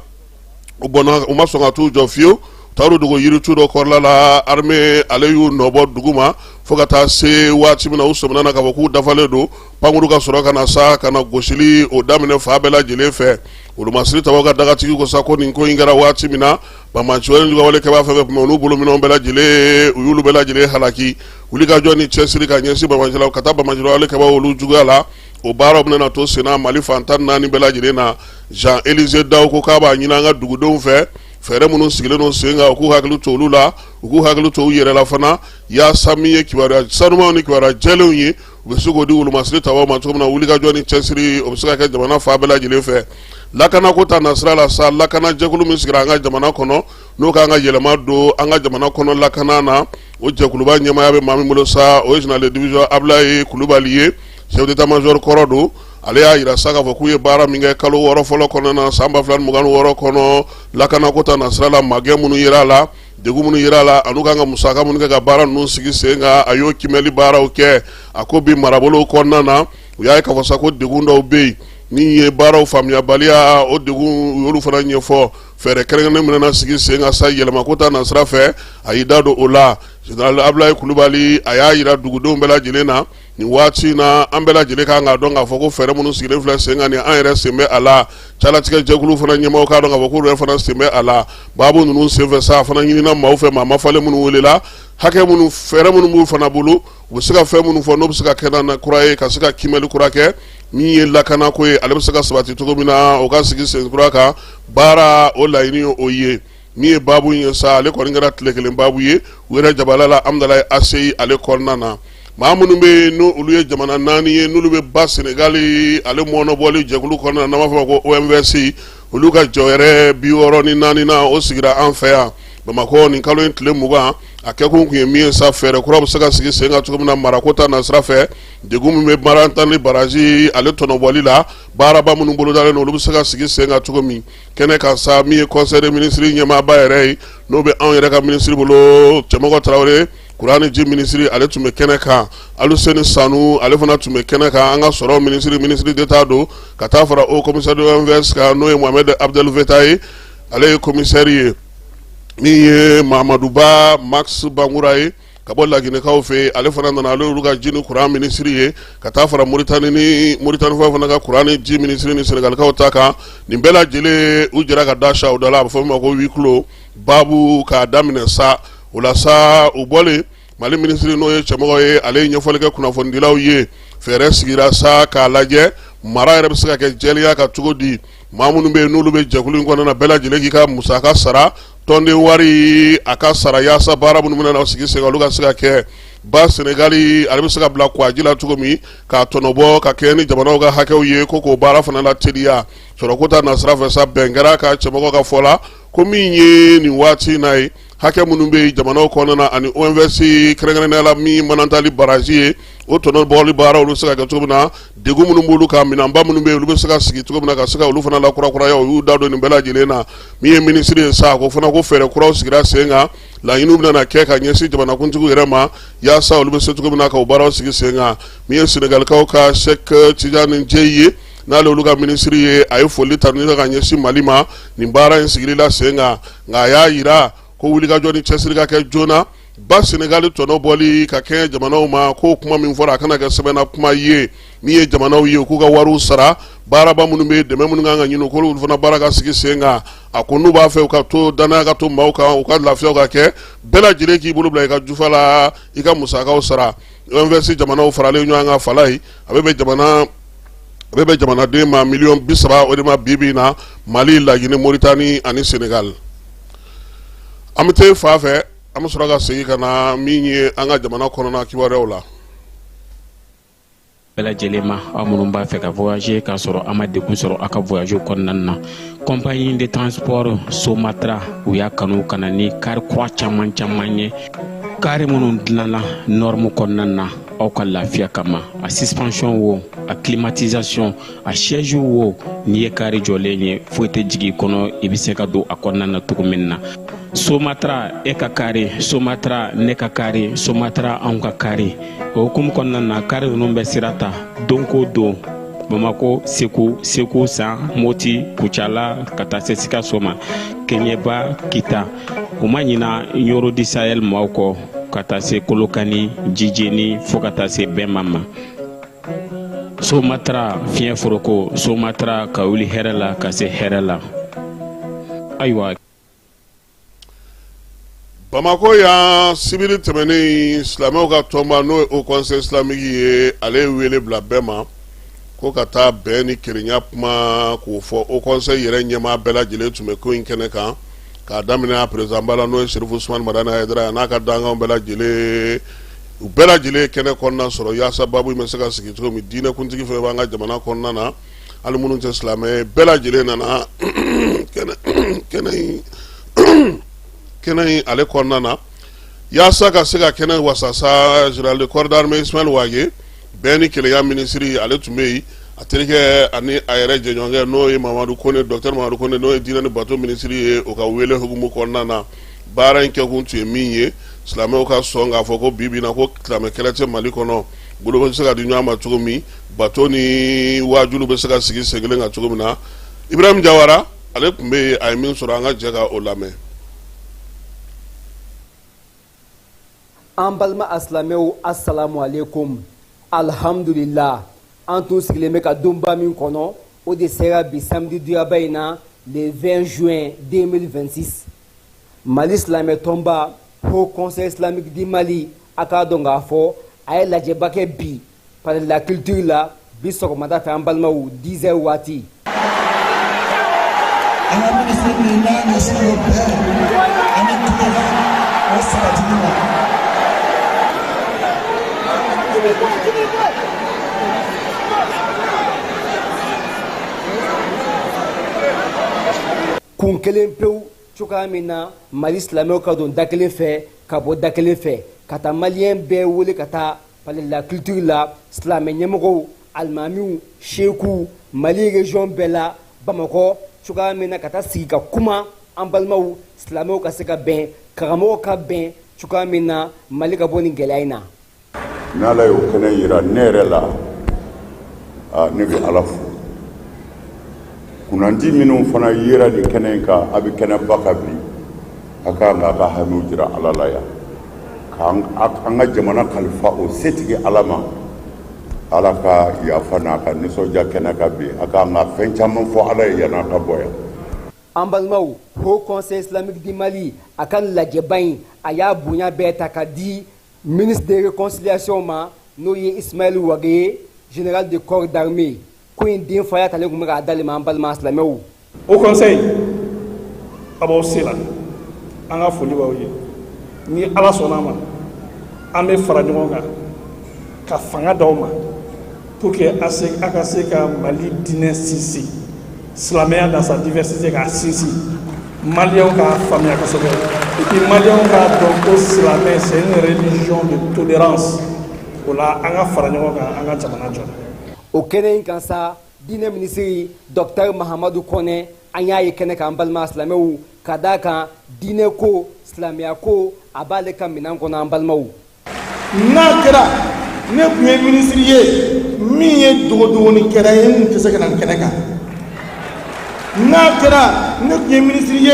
u banna u ma sɔn ka t'u jɔ fiyewu taar'u dogo yiritu dɔ kɔrɔla la armée ale y'u nɔbɔ dugu ma fo ka taa se waati min na u sɔmina na k'a fɔ k'u dafalen don pankuru ka sɔrɔ ka na sa ka na gosili o daminɛ fan bɛɛ lajɛlen fɛ wolomasiri tabaw ka dagatigi ko sa ko nin ko in kɛra waati min na banbaanci juguwale kɛbaw fɛn fɛn tun bɛ olu bolo minɛnw bɛɛ lajɛlen u y'olu bɛɛ lajɛlen halaki wulikajɔ ni cɛsiri ka ɲɛsin banbaanciw ka taa banbaanciwale kɛbaw olu juguya la o baaraw bɛna to sen na mali fan tan naani bɛɛ lajɛlen na Jean Élisée Dao ko k'a b'a ɲini an ka dugudenw fɛ fɛɛrɛ minnu sigilen don sen kan u k'u hakili to olu la u k'u hakili to u yɛrɛ la fana yaasa min ye kibaruya sanumanw ni kibaruya jɛlenw ye u bɛ se k'o di wolomasiri tabaw ma cogo min na wulikajɔ ni cɛsiri o bɛ se ka kɛ jamana fan bɛɛ lajɛlen fɛ lakanako ta nasira la sa lakanajɛkulu min sigira an ka jamana kɔnɔ n'o kan ka yɛlɛma don an ka jamana kɔnɔ lakana na o jɛkuluba ɲɛmaaya bɛ maa min bolo sa o ye général de division Ablaye Kulubali ye chef d'état major kɔrɔ don ale y'a jira sa k'a fɔ k'u ye baara min kɛ kalo wɔɔrɔ fɔlɔ kɔnɔna na san ba fila ni mugan ni wɔɔrɔ kɔnɔ lakanako ta nasira la magɛn minnu yera a la degun minnu yera a la an'u kan ka musaka minnu kɛ ka baara ninnu sigi sen kan a y'o kiimɛli baaraw kɛ a ko bi marabolow kɔnɔna na u y'a ye k'a fɔ sa ko degun dɔw bɛ yen min ye baaraw faamuyabaliya o degun u y'olu fana ɲɛfɔ fɛɛrɛ kɛrɛnkɛrɛnnen min bɛna sigi sen kan sa yɛlɛmako ta nasira fɛ a y'i da don o la général Ablaye Kulubali a y'a yira dugudenw bɛɛ lajɛlen na nin waati in na an bɛɛ lajɛlen kan k'a dɔn k'a fɔ ko fɛɛrɛ minnu sigilen filɛ sen kan ni an yɛrɛ sen bɛ a la calatigɛ jɛkulu fana ɲɛmaaw k'a dɔn k'a fɔ k'olu yɛrɛ fana sen bɛ a la baabu ninnu senfɛ sa a fana ɲinina maaw fɛ maa mafalen minnu welela hakɛ minnu fɛɛrɛ minnu b'u fana bolo u bɛ se ka fɛn minnu fɔ n'o bɛ se ka kɛ na kura ye ka se ka kiimɛli kura kɛ min ye lakanako ye ale bɛ se ka sabati cogo min na o ka sigi sen kura kan baara o laɲini o ye min ye baabu ye sa ale kɔni kɛra tile kelen baabu ye u yɛrɛ jabala la Hamdallaye ACI ale kɔnɔna na maa minnu bɛ yen n'olu ye jamana naani ye n'olu bɛ ba senegali ale mɔnɔbɔli jɛkulu kɔnɔna na n'an b'a fɔ ko OMVS olu ka jɔyɔrɔ bi wɔɔrɔ ni naaninan o sigira an fɛ yan bamakɔ nin kalo in tile mugan a kɛ kun tun ye min ye sa fɛɛrɛ kura bɛ se ka sigi sen kan cogo min na marako ta nasira fɛ degun min bɛ manantali baraji ale tɔnɔbɔli la baaraba minnu bolodalen olu bɛ se ka sigi sen kan cogo min kɛnɛ kan sa min ye conseil des ministres ɲɛmaaba yɛrɛ ye n'o bɛ anw yɛrɛ ka minisiri bolo cɛmɔgɔ tarawele kuran ni ji minisiri ale tun bɛ kɛnɛ kan aluseni sanu ale fana tun bɛ kɛnɛ kan an ka sɔrɔ minisiri ministre d'État don ka taa fara haut commissaire de l'OMVS kan n'o ye Mohamed Abdel Vetah ye ale ye kɔmisɛri ye min ye mamaduba max bangura ye ka bɔ laginɛkaw fɛ ale fana nana ale olu ka ji ni kuran minisiri ye ka taa fara moritani ni moritanikaw fana ka kuran ni ji minisiri ni senegalikaw ta kan nin bɛɛ lajɛlen u jɛra ka da sa u da la a bɛ fɔ min ma ko huis clos baabu k'a daminɛ sa o la sa u bɔlen mali minisiri n'o ye cɛmɔgɔ ye ale ye ɲɛfɔli kɛ kunnafonidilaw ye fɛɛrɛ sigira sa k'a lajɛ mara yɛrɛ bɛ se ka kɛ jɛlenya kan cogo di maa minnu bɛ yen n'olu bɛ jɛkulu in kɔnɔna bɛɛ lajɛlen k'i ka musaka sara tɔnden wari a ka sara yaasa baara minnu bɛna sigi sen kan olu ka se ka kɛ ba senegali ale bɛ se ka bila kuwaji la cogo min k'a tɔnɔbɔ ka kɛɲɛ ni jamanaw ka hakɛw ye ko k'o baara fana lateliya sɔrɔko ta nasira fɛ sa bɛn kɛra a kan cɛmɔgɔ ka fɔ la ko min ye nin waati in na ye hakɛ minnu bɛ jamanaw kɔnɔna ani OMVS kɛrɛnkɛrɛnnenya la min manantali baraji ye o tɔnɔbɔli baara olu bɛ se ka kɛ cogo min na degun minnu b'olu kan minɛnba minnu bɛ yen olu bɛ se ka sigi cogo min na ka se ka olu fana lakurakuraya u y'u da don nin bɛɛ lajɛlen na min ye minisiri ye sa ko fana ko fɛɛrɛ kuraw sigira sen kan laɲiniw bɛna kɛ ka ɲɛsin jamanakuntigiw yɛrɛ ma yaasa olu bɛ se cogo min na ka o baaraw sigi sen kan min ye senegalikaw ka Cheikh Tidiane Dièye ye n'ale olu ka minisiri ye a ye foli ta ni ka ɲɛsin mali ma nin baara in sigili la sen kan nka a y'a yira ko wulikajɔ ni cɛsiri ka kɛ joona ba senegali tɔnɔbɔli ka kɛɲɛ jamanaw ma ko kuma min fɔra a kana kɛ sɛbɛnna kuma ye min ye jamanaw ye k'u ka wariw sara baaraba minnu bɛ yen dɛmɛ minnu kan ka ɲini k'olu fana baara ka sigi sen kan a ko n'u b'a fɛ u ka to dannaya ka to maaw kan u ka lafiyaw ka kɛ bɛɛ lajɛlen k'i bolo bila i ka jufa la i ka musakaw sara OMVS jamanaw faralen ɲɔgɔn kan fala ye a bɛ bɛn jamana bɛ bɛn jamanaden maa miliyɔn bi saba o de ma bi bi na mali laginɛ moritani ani senegali an bɛ taa fa fɛ an bɛ sɔrɔ ka segin ka na min ye an ka jamana kɔnɔna kibaruyaw la bɛɛ lajɛlen ma aw minnu b'a fɛ ka voyager k'a sɔrɔ a ma degun sɔrɔ a ka voyage kɔnɔna na compagnie de transport somatra u y'a kanu ka na ni kari kura caman caman ye kari minnu dilanna nɔrɔmu kɔnɔna na aw ka lafiya kama a suspension wo a climatisation a siège wo n'i ye kari jɔlen ye foyi tɛ jigin i kɔnɔ i bɛ se ka don a kɔnɔna na cogo min na somatra e ka kari somatra ne ka kari somatra anw ka kari o hukumu kɔnɔna na kari ninnu bɛ sira ta don ko don bamako segu segu san moti kucala ka taa se sikaso ma keɲɛba kita u ma ɲina ɲɔrɔ du sahel maaw kɔ ka taa se kolokani jijeni fo ka taa se bɛɛma ma somatara fiɲɛ foroko somatara ka wuli hɛrɛ la ka se hɛrɛ la ayiwa bamakɔ yan sibiri tɛmɛnen silamɛw ka tɔnba n'o ye haut conseil islamique ye ale ye wele bila bɛɛ ma ko ka taa bɛn ni kelenya kuma k'o fɔ haut conseil yɛrɛ ɲɛmaa bɛɛ lajɛlen tun bɛ ko in kɛnɛ kan k'a daminɛ a perezidanba la n'o ye serifu usumani madani hayidara ye a n'a ka dankan bɛɛ lajɛlen u bɛɛ lajɛlen ye kɛnɛ kɔnɔna sɔrɔ yaasa baabu in bɛ se ka sigi cogo min diinɛkuntigi fɛn b'an ka jamana kɔnɔna na hali minnu tɛ silamɛ bɛɛ lajɛlen nana kɛnɛ in ale kɔnɔna na yaasa ka se ka kɛnɛ wasasa général de corps d'armée ismail wage bɛn ni kelenya minisiri ale tun bɛ yen a terikɛ ani a yɛrɛ jɛɲɔgɔnkɛ n'o ye mamadu kone docteur mamadu kone n'o ye diinɛ ni bato minisiri ye o ka wele hukumu kɔnɔna na baara in kɛkun tun ye min ye silamɛw ka sɔn k'a fɔ ko bi bi in na ko silamɛ kɛlɛ tɛ mali kɔnɔ bolo bɛ se ka di ɲɔgɔn ma cogo min bato ni waajulu bɛ se ka sigi sen kelen kan cogo min na ibrahim jawara ale tun bɛ yen a ye min sɔrɔ an ka jɛ ka o lamɛn an balima asilamɛw asalamu aleykum alihamudulila an tun sigilen bɛ ka donba min kɔnɔ o de sera bi samedi duyaba in na le 20 juin 2026 mali silamɛ tɔnba haut conseil islamique du mali a k'a dɔn k'a fɔ a ye lajɛba kɛ bi Palais de la culture la bi sɔgɔmada fɛ an balimaw 10 heures waati. An ka ministre de n'a ɲɛsin o bɛn ani kumakan o sabatili ma. Kun kelen pewu cogoya min na Mali silamɛw ka don da kelen fɛ ka bɔ da kelen fɛ ka taa maliyɛn bɛɛ wele ka taa Palais de la culture la silamɛ ɲɛmɔgɔw alimamiw sekuw Mali région bɛɛ la Bamakɔ cogoya min na ka taa sigi ka kuma an balimaw silamɛw ka se ka bɛn karamɔgɔw ka bɛn cogoya min na Mali ka bɔ nin gɛlɛya in na. Ni Ala y'o kɛnɛ yira ne yɛrɛ la, aa ne bɛ Ala fo. Kunnandi minnu fana yera nin kɛnɛ kan a bɛ kɛnɛba kan bi a ka kan k'a ka hamiw jira ala la yan k'an ka jamana kalifa o setigi ala ma ala ka yafa n'a ka nisɔndiya kɛnɛ kan bi a ka kan ka fɛn caman fɔ ala ye yan'a ka bɔ yan an balimaw Haut Conseil islamique du Mali a ka lajɛba in a y'a bonya bɛɛ ta ka di Ministre de réconciliation ma n'o ye Ismaël Wagué ye général de corps d'armée ko in denfaya talen tun bɛ k'a d'ale ma an balima silamɛw Haut Conseil a b'aw se la an ka foli b'aw ye ni ala sɔnna a ma an bɛ fara ɲɔgɔn kan ka fanga di aw ma Pour que a ka se ka Mali diinɛ sinsin, silamɛya dans sa diversité k'a sinsin, maliyɛnw k'a faamuya kosɛbɛ et puis maliyɛnw k'a dɔn ko silamɛ c'est une religion de tolérance o la an ka fara ɲɔgɔn kan an ka jamana jɔ. O kɛnɛ in kan sa, diinɛ minisiri Docteur Mahamadu Kɔnɛ, an y'a ye kɛnɛ kan an balima silamɛw, ka d'a kan diinɛ ko, silamɛya ko, a b'ale ka minɛn kɔnɔ an balimaw. n'a kɛra ne tun ye minisiri ye min ye dogodogonikɛla ye n tɛ se ka na nin kɛnɛ kan n'a kɛra ne tun ye minisiri ye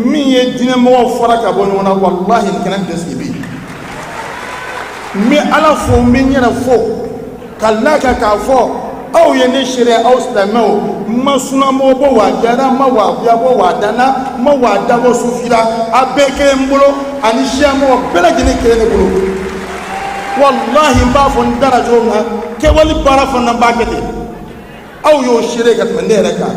min ye diinɛmɔgɔw fara ka bɔ ɲɔgɔn na walahi nin kɛnɛ tɛ sigi bi n bɛ ala fo n bɛ n yɛrɛ fo ka l'a kan k'a fɔ aw ye ne seere aw silamɛw n ma sunamɔgɔ bɔ wahabiya ra n ma wahabiya bɔ wada na n ma wada bɔ sufi ra a bɛɛ kelen n bolo ani siyamɔgɔ bɛɛ lajɛlen kelen ne bolo walahi n b'a fɔ n da ra cogo min na kɛwale baara fana n b'a kɛ ten aw y'o seere ka tɛmɛ ne yɛrɛ kan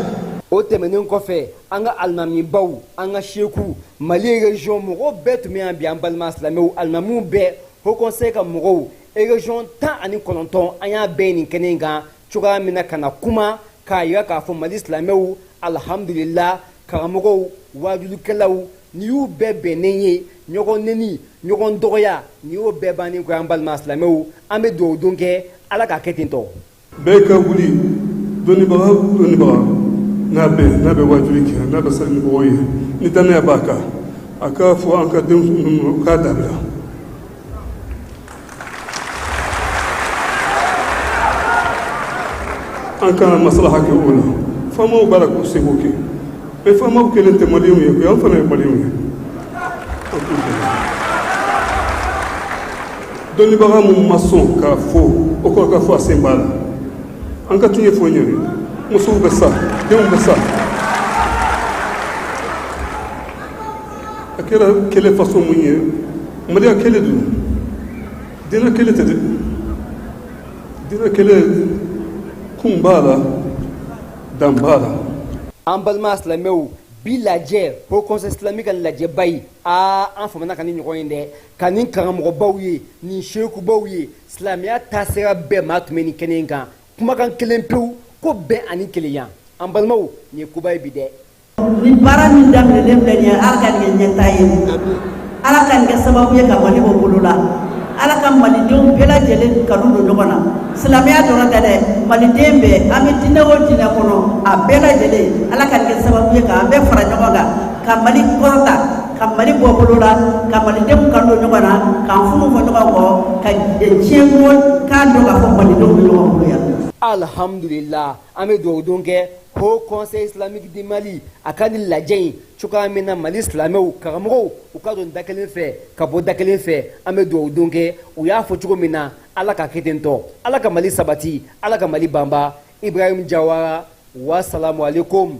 o tɛmɛnen kɔfɛ an ka alimamibaw an ka seku mali région mɔgɔw bɛɛ tun bɛ yan bi an balima silamɛw alimamiw bɛɛ Haut Conseil ka mɔgɔw Région 19 an y'a bɛɛ ye nin kɛnɛ in kan cogoya min na ka na kuma k'a yira k'a fɔ Mali silamɛw alhamdulila karamɔgɔw waajulikɛlaw nin y'u bɛɛ bɛnnen ye ɲɔgɔn neni ɲɔgɔn dɔgɔya nin y'o bɛɛ bannen koyi an balima silamɛw an bɛ dugawu don kɛ Ala k'a kɛ ten tɔ bɛɛ ka wuli dɔnnibaga dɔnnibaga n'a bɛ n'a bɛ waajuli kɛ n'a bɛ sali mɔgɔw ɲɛ ni dannaya b'a kan a k'a fɔ an ka denmisɛn ninnu k'a dabila an ka na maslaha kɛ o la faamaw b'a la k'u seko kɛ mais faamaw kelen tɛ maliyɛnw ye koyi an fana ye maliyɛnw ye dɔnnibaga minnu ma sɔn k'a fɔ o kɔrɔ k'a fɔ a sen b'a la an ka tiɲɛ fɔ ɲɔgɔn ye musow bɛ sa denw bɛ sa a kɛra kɛlɛ façon mun ye maliya kɛlɛ don dina kɛlɛ tɛ dɛ dina kɛlɛ kun b'a la dan b'a la an balima silamɛw bi lajɛ haut conseil islamique ka lajɛba in aa an famana ka nin ɲɔgɔn ye dɛ Ka nin karamɔgɔbaw ye nin sekubaw ye silamɛya taasira bɛɛ maa tun bɛ nin kɛnɛ in kan kumakan kelen pewu ko bɛn ani kelenya an balimaw nin ye koba ye bi dɛ nin baara min daminɛlen filɛ nin ye ala ka nin kɛ ɲɛtaa ye ala ka nin kɛ sababu ye ka mali bɔ bolo la ala ka malidenw bɛɛ lajɛlen kanu don ɲɔgɔn na silamɛya dɔrɔn tɛ dɛ maliden bɛɛ an bɛ diinɛ o diinɛ kɔnɔ a bɛɛ lajɛlen ala ka nin kɛ sababu ye ka an bɛɛ fara ɲɔgɔn kan ka mali kɔrɔta ka mali bɔ bolo la ka malidenw kanu don ɲɔgɔn na k'an furu fɔ ɲɔgɔn kɔ ka diɲɛ mɔgɔ k'a dɔn k'a fɔ malidenw bɛ ɲɔgɔn bolo yan alhamdulillah an bɛ dugawu don kɛ haut conseil islamique du mali a ka nin lajɛ in cogoya min na mali silamɛw karamɔgɔw u ka don da kelen fɛ ka bɔ da kelen fɛ an bɛ dugawu don kɛ u y'a fɔ cogo min na ala k'a kɛ ten tɔ ala ka mali sabati ala ka mali banba ibrahim jawara wasalamu aleykum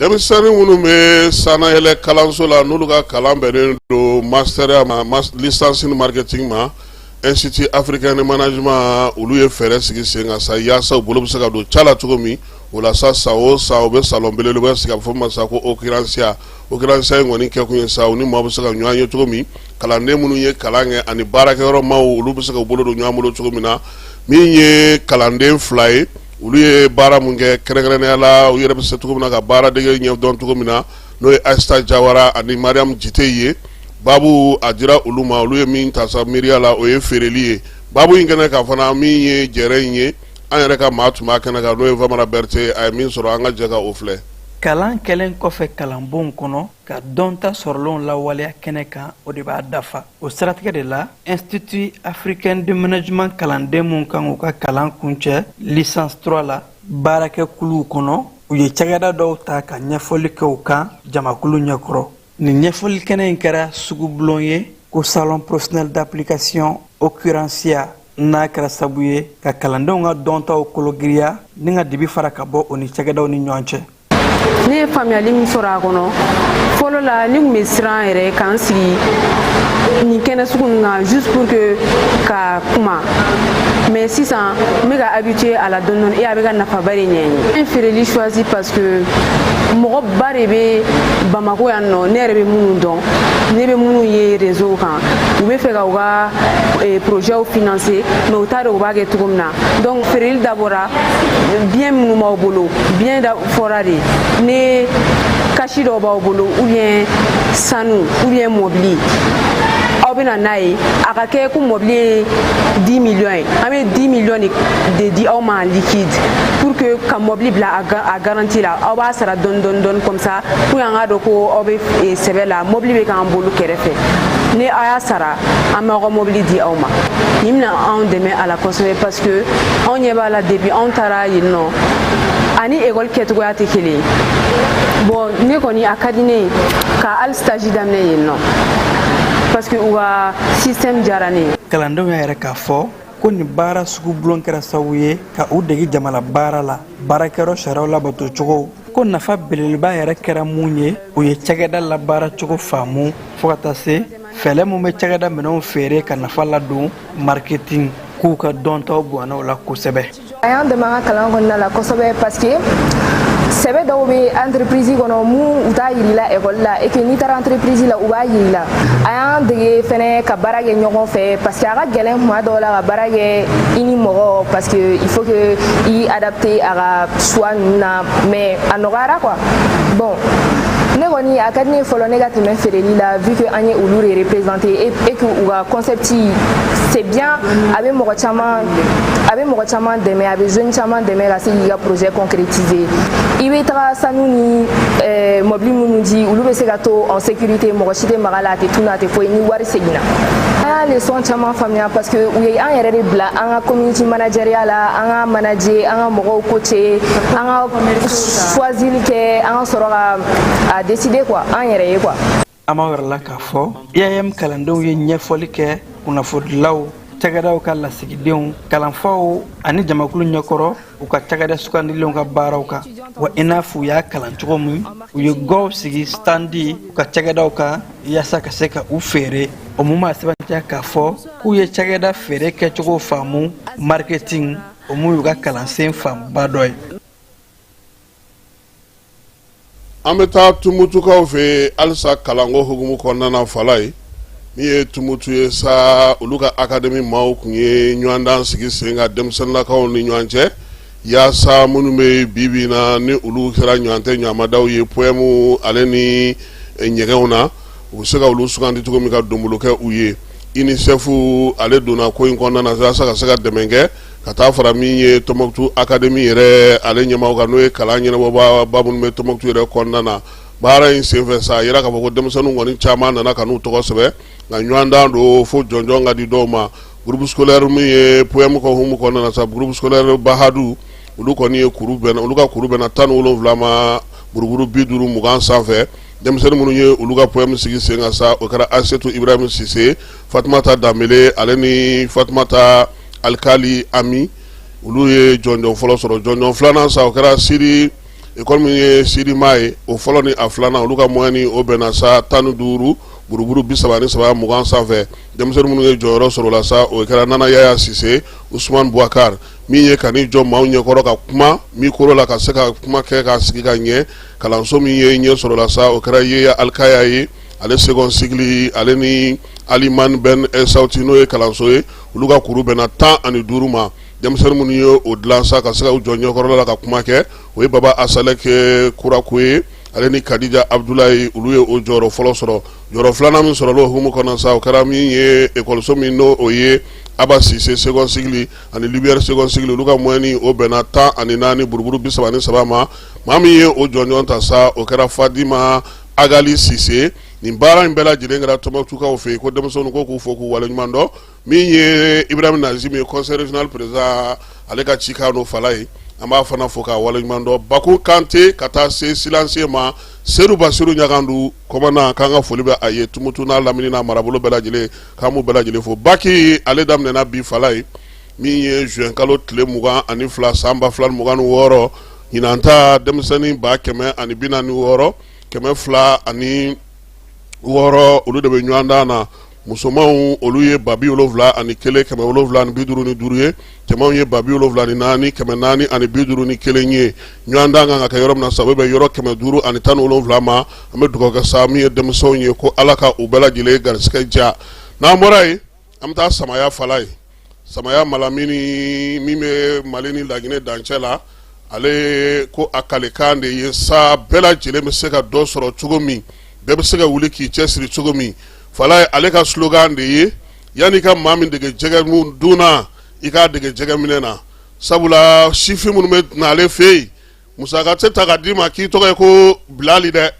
denmisɛnnin minnu bɛ sanayɛlɛ kalanso la n'olu ka kalan bɛnnen don master ma licence ni marketing ma institut africain de management olu ye fɛɛrɛ sigi sen kan sa yaasa u bolo bɛ se ka don ca la cogo min o la sa san o san u bɛ salon belebeleba sigi a bɛ fɔ min ma sa ko occurrencia occurrencia in kɔni kɛkun ye sa u ni maaw bɛ se ka ɲɔgɔn ye cogo min kalanden minnu ye kalan kɛ ani baarakɛyɔrɔ maaw olu bɛ se ka u bolo don ɲɔgɔn bolo cogo min na min ye kalanden fila ye olu ye baara min kɛ kɛrɛnkɛrɛnnenya la u yɛrɛ bɛ se cogo min na ka baara dege ɲɛ dɔn cogo min na n'o ye ayisata jawara ani mariyam jiteyi ye babu a dira olu ma olu ye min ta sa miiriya la o ye feereli ye babu in kɛnɛ kan fana min ye jɛrɛ in ye an yɛrɛ ka maa tun b'a kɛnɛ kan n'o ye famara berete a ye min sɔrɔ an ka jɛ ka o filɛ kalan kɛlen kɔfɛ kalanbon kɔnɔ ka dɔnta sɔrɔlenw lawaleya kɛnɛ kan o de b'a dafa o siratigɛ de la institut africain de management kalanden minw kan k'u ka kalan kuncɛ licence 3 la baarakɛ kuluw kɔnɔ u ye cakɛda dɔw ta ka ɲɛfɔli kɛ u kan jamakulu ɲɛkɔrɔ nin ɲɛfɔli kɛnɛ in kɛra sugubulon ye ko salon professionnel d'application occurrencia n'a kɛra sabu ye ka kalandenw ka dɔntaw kologiriya ni ka dibi fara ka bɔ u ni cakɛdaw ni ɲɔgɔn cɛ ne ye faamuyali min sɔrɔ a kɔnɔ fɔlɔ la ne tun bɛ siran yɛrɛ ka n sigi nin kɛnɛ sugu ninnu kan juste pour que ka kuma mais sisan n bɛ ka habitué a la dɔɔni dɔɔni et a bɛ ka nafaba de ɲɛ n ye. N ye feereli choisi parce que mɔgɔ ba de bɛ Bamako yan nɔ ne yɛrɛ bɛ minnu dɔn ne bɛ minnu ye réseau kan u bɛ fɛ ka u ka eh, projets financer mais u t'a dɔn u b'a kɛ cogo min na. donc feereli dabɔra biens minnu b'aw bolo bien da fɔra de ni cash dɔw b'aw bolo ou bien sanu ou bien mɔbili aw bɛna n'a ye a ka kɛ ko mɔbili ye 10 millions ye an bɛ 10 millions de di aw ma en liquide pour que ka mɔbili bila a garantie la aw b'a sara dɔɔni dɔɔni dɔɔni comme ça pour que an k'a dɔn ko aw bɛ sɛbɛ la mɔbili bɛ k'an bolo kɛrɛfɛ ni aw y'a sara an bɛ aw ka mobili di aw ma nin bɛna anw dɛmɛ a la kosɛbɛ parce que anw ɲɛ b'a la depuis anw taara yen nɔ ani ekɔli kɛcogoya tɛ kelen ye bon ne kɔni a ka di ne ye ka hali stage daminɛ yen nɔ parce que u ka système diyara ne ye kalandenw y'a yɛrɛ k'a fɔ ko nin baara sugu bulon kɛra sababu ye ka u dege jamalabaara la baarakɛyɔrɔ sariyaw labato cogo ko nafa belebeleba yɛrɛ kɛra mun ye u ye cakɛda labaara cogo faamu fo ka taa se fɛɛrɛ min bɛ cakɛda minɛnw feere ka nafa ladon marketing k'u ka dɔntaw bonyana o la kosɛbɛ a y'an dɛmɛ an ka kalan kɔnɔna la kosɛbɛ parce que sɛbɛ dɔw bɛ entreprise kɔnɔ mun u t'a yir'i la ekɔli la et que n'i taara entreprise la u b'a yir'i la a y'an dege fɛnɛ ka baara kɛ ɲɔgɔn fɛ parce que a ka gɛlɛn kuma dɔw la ka baara kɛ i ni mɔgɔ parce que il faut que i adapter a ka choix ninnu na mais a nɔgɔyara quoi bon ne kɔni a ka di ne ye fɔlɔ ne ka tɛmɛ feereli la vu que an ye olu de représenter et que u ka concept c'est bien a bɛ mɔgɔ caman dɛmɛ a bɛ jeune caman dɛmɛ ka se k'i ka projet concrétiser i bɛ taga sanu ni eh, mɔbili minnu di olu bɛ se ka to en sécurité mɔgɔ si tɛ mag'a la a tɛ tunu a tɛ foyi ni wari seginna an ye leçon caman faamuya parce que u ye an yɛrɛ de bila an ka community manageriya la an ka manager an ka mɔgɔw coacher an ka choisili kɛ an ka sɔrɔ ka a décider quoi an yɛrɛ ye quoi an b'a wɛrɛ la k'a fɔ IAM kalandenw ye ɲɛfɔli kɛ kunnafonidilaw cakɛdaw ka lasigidenw kalanfaw ani jamakulu ɲɛkɔrɔ u ka cakɛda sugandilenw ka baaraw kan wa i n'a fɔ u y'a kalan cogo min u ye gwaw sigi standi u ka cakɛdaw kan yaasa ka se ka u feere o mun b'a sɛmɛntiya k'a fɔ k'u ye cakɛda feere kɛcogo faamu marketing o mun y'u ka kalansen fanba dɔ ye an bɛ taa tumutukaw fɛ halisa kalanko hukumu kɔnɔna na falaye min ye tumutu ye sa olu ka akademi maaw kun ye ɲɔgɔndan sigi sen kan denmisɛnninlakaw ni ɲɔgɔn cɛ yaasa minnu bɛ bibi na ni olu kɛra ɲɔgɔn tɛ ɲamada ye poème ale ni ɲɛgɛnw na u bɛ se ka olu sugandi cogo min ka donbolo kɛ u ye unicef ale donna ko in kɔnɔna na yaasa ka se ka dɛmɛ kɛ ka taa fara min ye tɔnmɔkutu akademi yɛrɛ ale ɲɛmaaw kan n'o ye kalan ɲɛnabɔbaa minnu bɛ tɔnmɔkutu yɛrɛ kɔnɔna na baara in senfɛ sa a yira k'a fɔ ko denmisɛnninw kɔni caman nana ka n'u tɔgɔ sɛbɛn nka ɲɔgɔndan don fo jɔnjɔn ka di dɔw ma groupe scolaire min ye poème ka hukumu kɔnɔna na sa groupe scolaire bahadu olu kɔni ye kuru bɛnna olu ka kuru bɛnna tan ni wolonwula ma buruburu bi duuru mugan sanfɛ denmisɛnnin minnu ye olu ka poème sigi sen kan sa o kɛra asetu ibrahim sise fatumata danbele ale ni fatumata alikali ami olu ye jɔnjɔn fɔlɔ sɔrɔ jɔnjɔn filanan sa o kɛra siri école min ye sirima ye o fɔlɔ ni a filanan olu ka moyenne o bɛnna sa tan ni duuru buruburu bi saba ni saba mugan sanfɛ denmisɛnnin minnu ye jɔyɔrɔ sɔrɔ la sa o kɛra nana yaya sise usman buwakari min ye ka n'i jɔ maaw ɲɛkɔrɔ ka kuma mikoro la ka se ka kuma kɛ k'a sigi ka ɲɛ kalanso min ye ɲɛ sɔrɔ la sa o kɛra yeya alikaya ye ale second cycle ale ni alimani bɛn sawuti n'o ye kalanso ye olu ka kuru bɛnna tan ani duuru ma denmisɛnnin minnu ye o dilan sa ka se ka u jɔ ɲɛkɔrɔ la ka kuma kɛ o ye baba asalek kurakoye ale ni kadija abudulayi olu ye o jɔyɔrɔ fɔlɔ sɔrɔ jɔyɔrɔ filanan min sɔrɔla o hukumu kɔnɔ sa o kɛra min ye ekɔliso min n'o ye aba sise second cycle ani lumière second cycle olu ka moyenne o bɛnna tan ani naani buruburu bi saba ni saba ma maa min ye o jɔnjɔn ta sa o kɛra fadima agali sise nin baara in bɛɛ lajɛlen kɛra tɔnbɔkutukaw fɛ yen ko denmisɛnninw ko k'u fo k'u waleɲuman dɔn min ye ibrahim nazim ye conseil régional président ale ka cikan n'o falaye an b'a fana fo k'a waleɲuman dɔn bakun kante ka taa se silencieux ma sedu basiru ɲagandu kɔmana k'an ka foli bɛ a ye tumutu n'a lamini n'a marabolo bɛɛ lajɛlen k'an b'u bɛɛ lajɛlen fo baki ale daminɛna bi falaye min ye juin kalo tile mugan ani fila san ba fila ni mugan ni wɔɔrɔ ɲinan ta denmisɛnnin ba kɛmɛ ani bi naani ni wɔɔrɔ kɛmɛ fila ani wɔɔrɔ olu de bɛ ɲɔgɔndan na musomanw olu ye ba bi wolonwula ani kelen kɛmɛ wolonwula ani bi duuru ni duuru ye cɛmanw ye ba bi wolonwula ni naani kɛmɛ naani ani bi duuru ni kelen ye ɲɔgɔndan kan ka kɛ yɔrɔ min na sa a bɛ bɛn yɔrɔ kɛmɛ duuru ani tan ni wolonwula ma an bɛ dugawu kɛ sa min ye denmisɛnw ye ko ala ka u bɛɛ lajɛlen garisigɛ diya n'an bɔra yen An bɛ taa Samaya falayi, Samaya Malamini min bɛ Mali ni Laginɛ dancɛ la, ale ko a kalekan de ye sa bɛɛ lajɛlen bɛ se ka dɔ sɔrɔ cogo min, bɛɛ bɛ se ka wuli k'i cɛ siri cogo min, falayi ale ka slogan de ye yan'i ka maa min dege jɛgɛ dun na, i k'a dege jɛgɛ minɛ na, sabula sifin minnu bɛ na ale fɛ yen musaka tɛ ta ka d'i ma k'i tɔgɔ ye ko bilali dɛ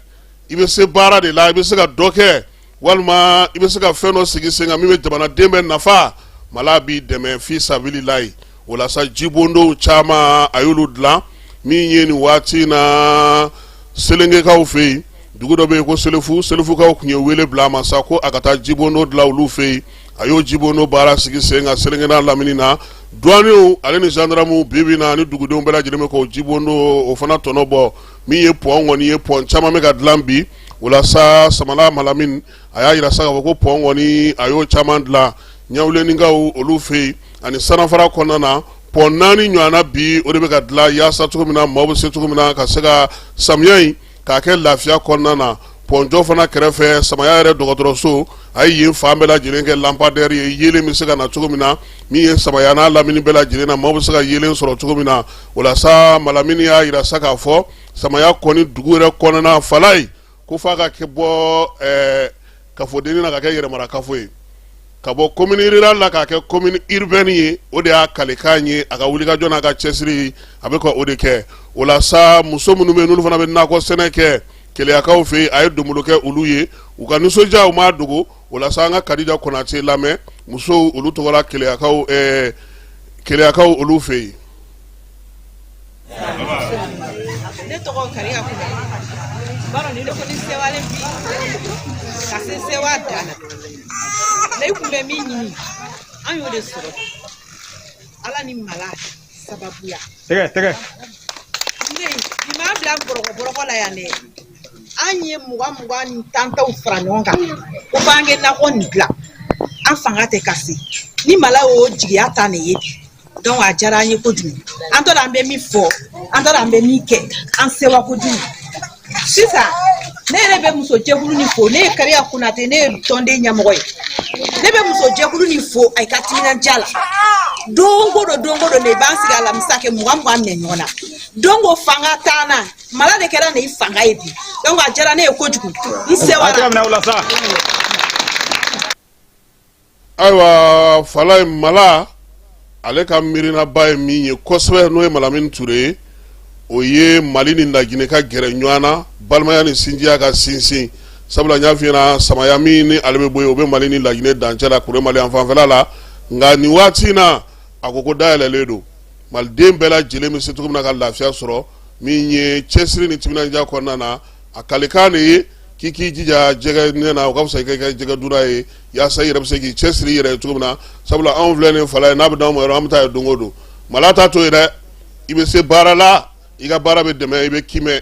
i bɛ se baara de la i bɛ se ka dɔ kɛ walima i bɛ se ka fɛn dɔ sigi sen kan min bɛ jamanaden bɛɛ nafa mala b'i dɛmɛ fi sabililayi o la sa jibondonw caman a y'olu dilan min ye nin waati in na selengekaw fɛ yen dugu dɔ bɛ yen ko selefu selefukaw tun ye wele bila a ma sa ko a ka taa jibondon dilan olu fɛ yen a y'o jibondon baara sigi sen kan selenge n'a lamini na duwaniw ale ni zandaramu bibi na ni dugudenw bɛɛ lajɛlen bɛ k'o jibondon o fana tɔnɔ bɔ min ye pɔn kɔni ye pɔn caman bɛ ka dilan bi o la sa samaya malamini a y'a jira sa k'a fɔ ko pɔn kɔni a y'o caman dilan ɲawulenikaw olu fɛ yen ani sanafara kɔnɔna na pɔn naani ɲɔgɔnna bi o de bɛ ka dilan yaasa cogo min na maaw bɛ se cogo min na ka se ka samiya in k'a kɛ lafiya kɔnɔna na pɔnjɔ fana kɛrɛfɛ samaya yɛrɛ dɔgɔtɔrɔso a ye yen fan bɛɛ lajɛlen kɛ lampadɛri ye yelen bɛ se ka na cogo min na min ye samaya n'a lamini bɛɛ lajɛlen na maaw bɛ se ka yelen sɔrɔ cogo min na o la sa malamini y'a jira sa k'a fɔ samaya kɔni dugu yɛrɛ kɔnɔna falayi ko f'a ka kɛ bɔ kafodennin na ka kɛ yɛrɛmara kafo ye ka bɔ commune rurale la k'a kɛ commune urbaine ye o de y'a kalikan ye a ka wulikajɔ n'a ka cɛsiri a bɛ ka o de kɛ o la sa muso minnu bɛ yen n'olu fana bɛ nakɔ sɛnɛ kɛ keleyakaw fɛ yen a ye donbolo kɛ olu ye u ka nisɔndiya u m'a dogo o la sa an ka kadija konate lamɛn musow olu tɔgɔ la keleyakaw keleyakaw olu fɛ yen ne tɔgɔ kariya kuma baro ni ne kɔni sewalen bi ka se sewa dan na ne kun bɛ min ɲini an y'o de sɔrɔ ala ni mala sababuya tɛgɛ tɛgɛ ne nin b'a bila bɔrɔkɔ bɔrɔkɔ la yan dɛ an ye mugan mugan ni tan tanw fara ɲɔgɔn kan ko b'an kɛ nakɔ nin dilan an fanga tɛ ka se ni mala y'o jigiya ta an ye bi donc a diyara an ye kojugu an t'a dɔn an bɛ min fɔ an t'a dɔn an bɛ min kɛ an sewa kojugu sisan ne yɛrɛ bɛ muso jɛkulu ni fo ne ye kariya konate ne ye tɔnden ɲɛmɔgɔ ye ne bɛ muso jɛkulu ni fo a ka timinandiya la don ko don don ko don de b'an sigi alamisa kɛ mugan mugan minɛ ɲɔgɔn na donc o fanga t'an na mala de kɛra ne fanga ye bi donc a diyara ne ye kojugu n sewara ayiwa falaye mala ale ka miirinaba ye min ye kosɛbɛ n'o ye malamini ture ye o ye mali ni laginɛ ka gɛrɛ ɲɔgɔn na balimaya ni sinjiya ka sinsin sabula n y'a f'i ɲɛna samaya min ni ale bɛ bɔ yen o bɛ mali ni laginɛ dancɛ la kuremali fanfɛla la nka nin waati in na a ko ko dayɛlɛlen don maliden bɛɛ lajɛlen bɛ se cogo min na ka lafiya sɔrɔ min ye cɛsiri ni timinandiya kɔnɔna na a kalikan de ye k'i k'i jija jɛgɛ minɛ na o ka fisa i ka kɛ jɛgɛ dunna ye yasa i yɛrɛ bɛ se k'i cɛ siri i yɛrɛ ye cogo min na sabula anw filɛ nin falaye n'a bɛ d'anw ma yɔrɔ an bɛ taa yen don o don mala t'a to yen dɛ i bɛ se baara la i ka baara bɛ dɛmɛ i bɛ kiimɛ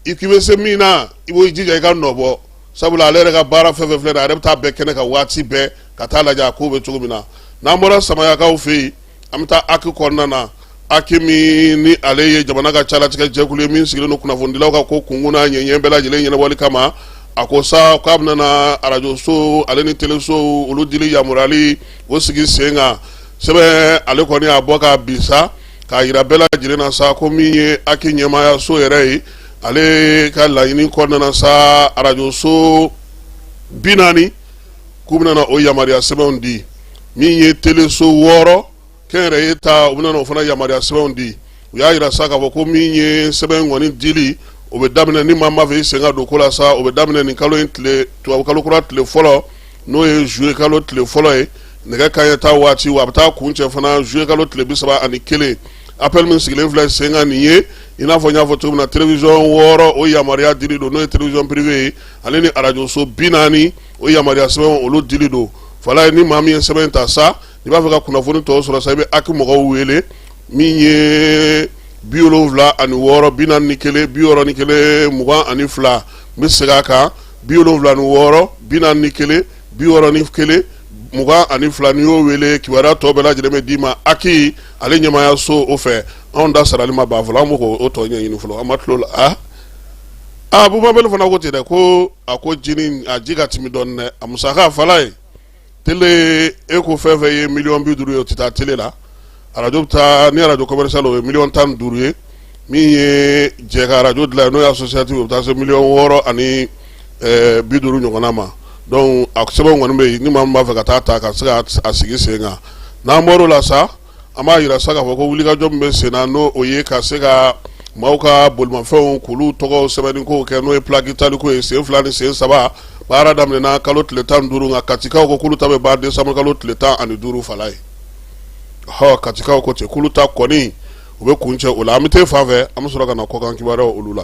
i k'i bɛ se min na i b'o jija i ka nɔ bɔ sabula ale yɛrɛ ka baara fɛn fɛn filɛ nin ye a yɛrɛ bɛ taa bɛɛ kɛnɛ kan waati bɛɛ ka taa lajɛ a kow bɛ cogo min na n'an bɔra samayakaw fɛ yen an bɛ taa aki kɔnɔna na aki min ni ale ye jamana ka calatigɛ jɛkulu ye min sigilen don kunnafonidilaw ka ko kunkun n'a ɲɛɲɛ bɛɛ lajɛlen ɲɛnabɔli kama a ko sa k'a bɛna na arajoso ale ni telesow olu dili yamaruyali o sigi sen kan sɛbɛn ale kɔni y'a bɔ ka bi sa k'a yira bɛɛ lajɛlen na sa ko min ye aki ɲɛmaaya so yɛrɛ ye ale ka laɲini kɔnɔna na sa arajoso bi naani k'u bɛna na o yamaruya sɛbɛnw di min ye teleso wɔɔrɔ kɛnyɛrɛye ta u bɛna na o fana yamaruya sɛbɛnw di u y'a yira sa k'a fɔ ko min ye sɛbɛn kɔni dili o bɛ daminɛ ni maa min b'a fɛ i sen ka don ko la sa o bɛ daminɛ nin kalo in tile tubabu kalo kura tile fɔlɔ n'o ye juillet kalo tile fɔlɔ ye nɛgɛ kanɲɛ tan waati wa a bɛ taa kuncɛ fana juillet kalo tile bi saba ani kelen appel min sigilen filɛ sen kan nin ye i n'a fɔ n y'a fɔ cogo min na télévision wɔɔrɔ o yamaruya dili don n'o ye télévision privée ye ale ni arajoso bi naani o yamaruya sɛbɛn olu dili don falaye ni maa min ye sɛbɛn ta sa i b'a fɛ ka kunnafoni tɔw sɔrɔ sa i bɛ aki mɔgɔw wele min ye bi wolonwula ani wɔɔrɔ bi naani ni kelen bi wɔɔrɔ ni kelen mugan ani fila n bɛ segin a kan bi wolonwula ni wɔɔrɔ bi naani ni kelen bi wɔɔrɔ ni kelen mugan ani fila n'i y'o wele kibaruya tɔ bɛɛ lajɛlen bɛ d'i ma aki ale ɲɛmaaya so o fɛ anw ta sarali ma ban fɔlɔ an b'o ko tɔ ɲɛɲini fɔlɔ an ma tulo la a a bubabali fana ko ten dɛ ko a ko jinin a ji ka timi dɔɔni dɛ a musaka falaye tele e ko fɛn fɛn ye miliyɔn bi duuru ye o tɛ taa tele la arajo bɛ taa ni arajo commercial o ye miliyɔn tan ni duuru ye min ye jɛ ka arajo dilan ye n'o ye associative o bɛ taa se miliyɔn wɔɔrɔ ani ɛɛ bi duuru ɲɔgɔnna ma donc a sɛbɛnw kɔni bɛ yen ni maa min b'a fɛ ka taa ta ka se ka a sigi sen kan n'an bɔr'o la sa An b'a yira sa k'a fɔ ko wulikajɔ min bɛ senna n'o ye ka se ka maaw ka bolimafɛnw k'olu tɔgɔw sɛbɛnni kow kɛ n'o ye plaque taliko ye sen fila ni sen saba baara daminɛna kalo tile tan ni duuru nka Katikaw ko k'olu ta bɛ ban décembre kalo tile tan ani duuru Falaye ɔ Katikaw ko ten k'olu ta kɔni u bɛ kuncɛ o la an bɛ t'e fan fɛ an bɛ sɔrɔ ka na kɔkan kibaruyaw olu la.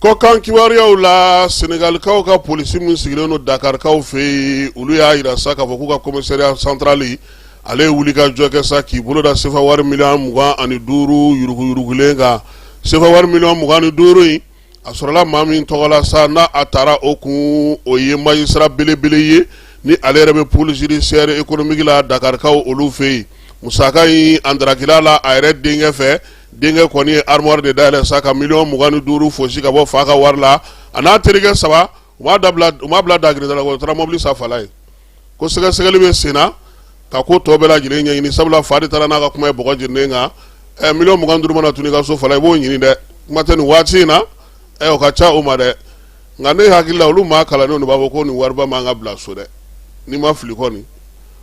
Kɔkan kibaruyaw la senegalikaw ka polisi min sigilen don dakarikaw fɛ yen olu y'a jira sa k'a fɔ k'u ka komisariya santarali ale ye wuli ka jɔ kɛ sa k'i bolo da sefa wari miliyɔn mugan ani duuru yuruguyurugulen kan sefa wari miliyɔn mugan ni duuru in a sɔrɔla maa min tɔgɔ la sa n'a a taara o kun o ye magistrat belebele ye ni ale yɛrɛ bɛ pôle judiciaire économique la dakarikaw olu fɛ yen musaka in a drakila la a yɛrɛ denkɛ fɛ denkɛ kɔni ye armoire de dayɛlɛ sa ka miliyɔn mugan ni duuru fosi ka bɔ fa ka wari la a n'a terikɛ saba u m'a dabila u m'a bila dagirinda la u taara mobili san Falaye ko sɛgɛsɛgɛli bɛ sen na ka ko tɔ bɛɛ lajɛlen ɲɛɲini sabula fa de taara n'a ka kuma ye bɔgɔ jeninen kan ɛ miliyɔn mugan duuru mana tunu i ka so Falaye i b'o ɲini dɛ kuma tɛ nin waati in na ɛ o ka ca o ma dɛ nka ne hakili la olu maa kalannenw de b'a fɔ ko nin wariba man ka bila so dɛ n'i ma fili kɔni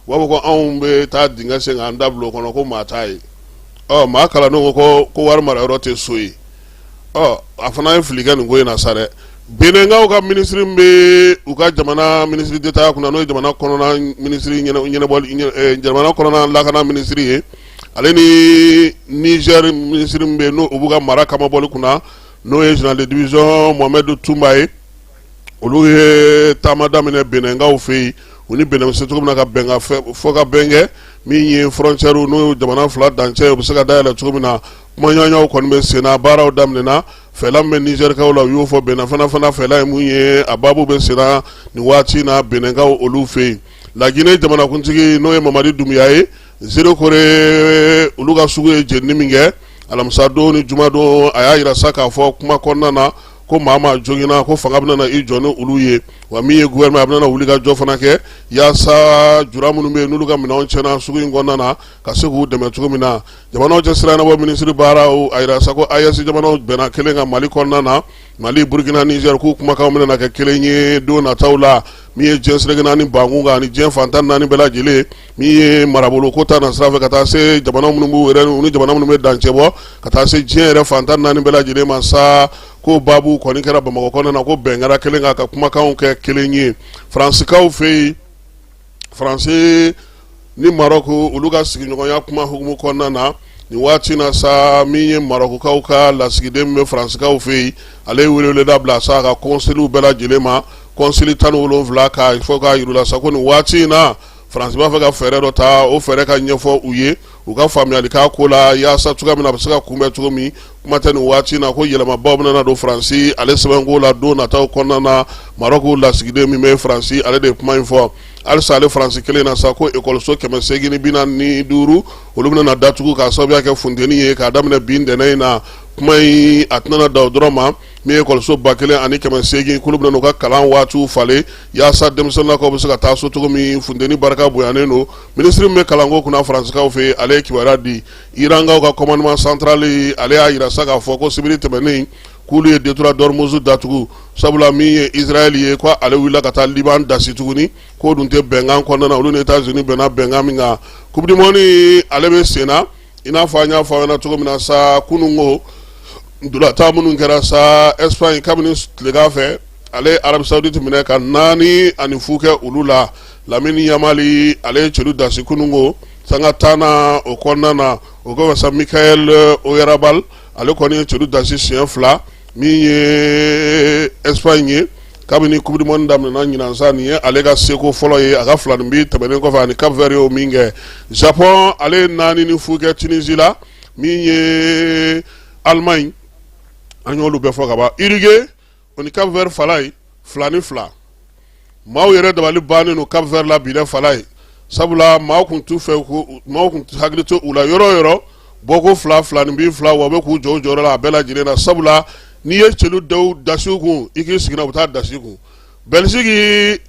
u b'a fɔ ko anw bɛ taa dingɛ sen k'an ta bila o kɔnɔ ko maa t'a ye ɔ maa kalannenw ko ko wari mara yɔrɔ tɛ so ye ɔ a fana ye fili kɛ nin ko in na sa dɛ benɛnkaw ka minisiri min bɛ u ka jamana minisiri d'État kunna n'o ye jamana kɔnɔna minisiri ɲɛnabɔli jamana kɔnɔna lakana minisiri ye ale ni nizɛri minisiri min bɛ yen n'o u b'u ka mara kamabɔli kunna n'o ye zenerali de divizɔn mohamɛdu tunba ye olu ye taama daminɛ benɛnkaw fɛ yen u ni benɛn se cogo min na ka bɛnkan fɔ ka bɛn kɛ min ye frontière n'o ye jamana fila dancɛ o bɛ se ka dayɛlɛ cogo min na kumaɲɔgɔnw kɔni bɛ senna baaraw daminɛna fɛla min bɛ nizɛrikaw la u y'o fɔ benɛn fana fɛla ye mun ye a baabu bɛ senna nin waati na benɛnkaw olu fɛ yen laginɛ jamanakuntigi n'o ye mamadi dumbuya ye zerekore olu ka sugu ye jeni min kɛ alamisadon ni jumadon a y'a jira sa k'a fɔ kuma kɔnɔna na ko maa ma jogina ko fanga bɛna na i jɔ ni olu ye wa min ye guvɛrinama a bɛna na wuli ka jɔ fana kɛ yaasa jula minnu bɛ yen n'olu ka minɛnw cɛna sugu in kɔnɔna na ka se k'u dɛmɛ cogo min na jamanaw cɛsira ɲɛnabɔ minisiri baaraw a jira sa ko AES jamanaw bɛnna kelen kan mali kɔnɔna na mali burukina nizɛri k'u kumakanw bɛna na kɛ kelen ye don nataw la min ye diɲɛ seleke naani bankun kan ani diɲɛ fan tan naani bɛɛ lajɛlen min ye marabolo ko ta na sira fɛ ka taa se jamana minnu b'u yɛrɛ ni jamana minnu bɛ dancɛ bɔ ka taa se diɲɛ yɛrɛ fan tan naani bɛɛ lajɛlen ma sa ko baabu kɔni kɛra bamakɔ kɔnɔna na ko bɛn kɛra kelen kan ka kumakanw kɛ kelen ye faransikaw fɛ yen faransi ni marɔku olu ka sigiɲɔgɔnya kuma hukumu kɔnɔna na nin waati na sa min ye marɔkukaw ka lasigiden bɛ faransikaw fɛ yen ale ye wele da bila sa ka kɔnsiliw bɛɛ lajɛlen ma kɔnsili tan ni wolonwula k'a fɔ k'a yir'u la sa ko nin waati in na Faransi b'a fɛ ka fɛɛrɛ dɔ ta o fɛɛrɛ ka ɲɛfɔ u ye u ka faamuyali k'a ko la yaasa cogoya min na a bɛ se ka kunbɛn cogo min kuma tɛ nin waati na ko yɛlɛmaba bɛna na don Faransi ale sɛbɛnko la don nataw kɔnɔna na Marɔku lasigiden min bɛ Faransi ale de ye kuma in fɔ halisa ale Faransi kelen na sa ko ekɔliso kɛmɛ seegin ni bi naani ni duuru olu bɛna na datugu k'a sababuya kɛ funteni ye k'a daminɛ bi ntɛnɛn in na kuma in a tɛna na dan o dɔrɔn ma Min ye ekɔliso ba kelen ani kɛmɛ segin k'olu bɛna u ka kalan waatiw falen yaasa denmisɛnninkaw bɛ se ka taa so cogo min funteni barika bonyanen don minisiri min bɛ kalanko kunna Faransikaw fɛ ale ye kibaruya di Irankaw ka commandement central ale y'a jira sa k'a fɔ ko sibiri tɛmɛnen k'olu ye détroit d'Ormuz datugu sabula min ye Israël ye k' ale wulila ka taa Liban dasi tuguni k'o dun tɛ bɛnkan kɔnɔna na olu ni États-Unis bɛnna bɛnkan min kan coupe du monde ale bɛ sen na i n'a fɔ an y'a fɔ aw ɲɛna cogo min na sa kunun ko ntolatan minnu kɛra sa espagne kabini tilegan fɛ ale ye arabie saoudite minɛ ka naani ani fu kɛ olu la lamine yamal ale ye celu dasi kunun ko sanga tan na o kɔnɔna na o kɔfɛ sa mikel oyarzabal ale kɔni ye celu dasi siɲɛ fila min ye espagne ye kabini coupe du monde daminɛna ɲinan sa nin ye ale ka seko fɔlɔ ye a ka filaninbin tɛmɛnen kɔfɛ a ni cap vert y'o min kɛ japon ale ye naani ni fu kɛ tunisie la min ye allemagne an y'olu bɛɛ fɔ ka ban uruguay o ni cap vert falaye fila ni fila maaw yɛrɛ dabali bannen don Cap Vert la bi dɛ Falaye sabula maaw tun t'u fɛ ko maaw tun hakili tɛ u la yɔrɔ o yɔrɔ bɔko fila filaninbin fila wa u bɛ k'u jɔ u jɔyɔrɔ la a bɛɛ lajɛlen na sabula n'i ye celu daw dasi u kun i k'i sigina u bɛ taa a dasi i kun Belgique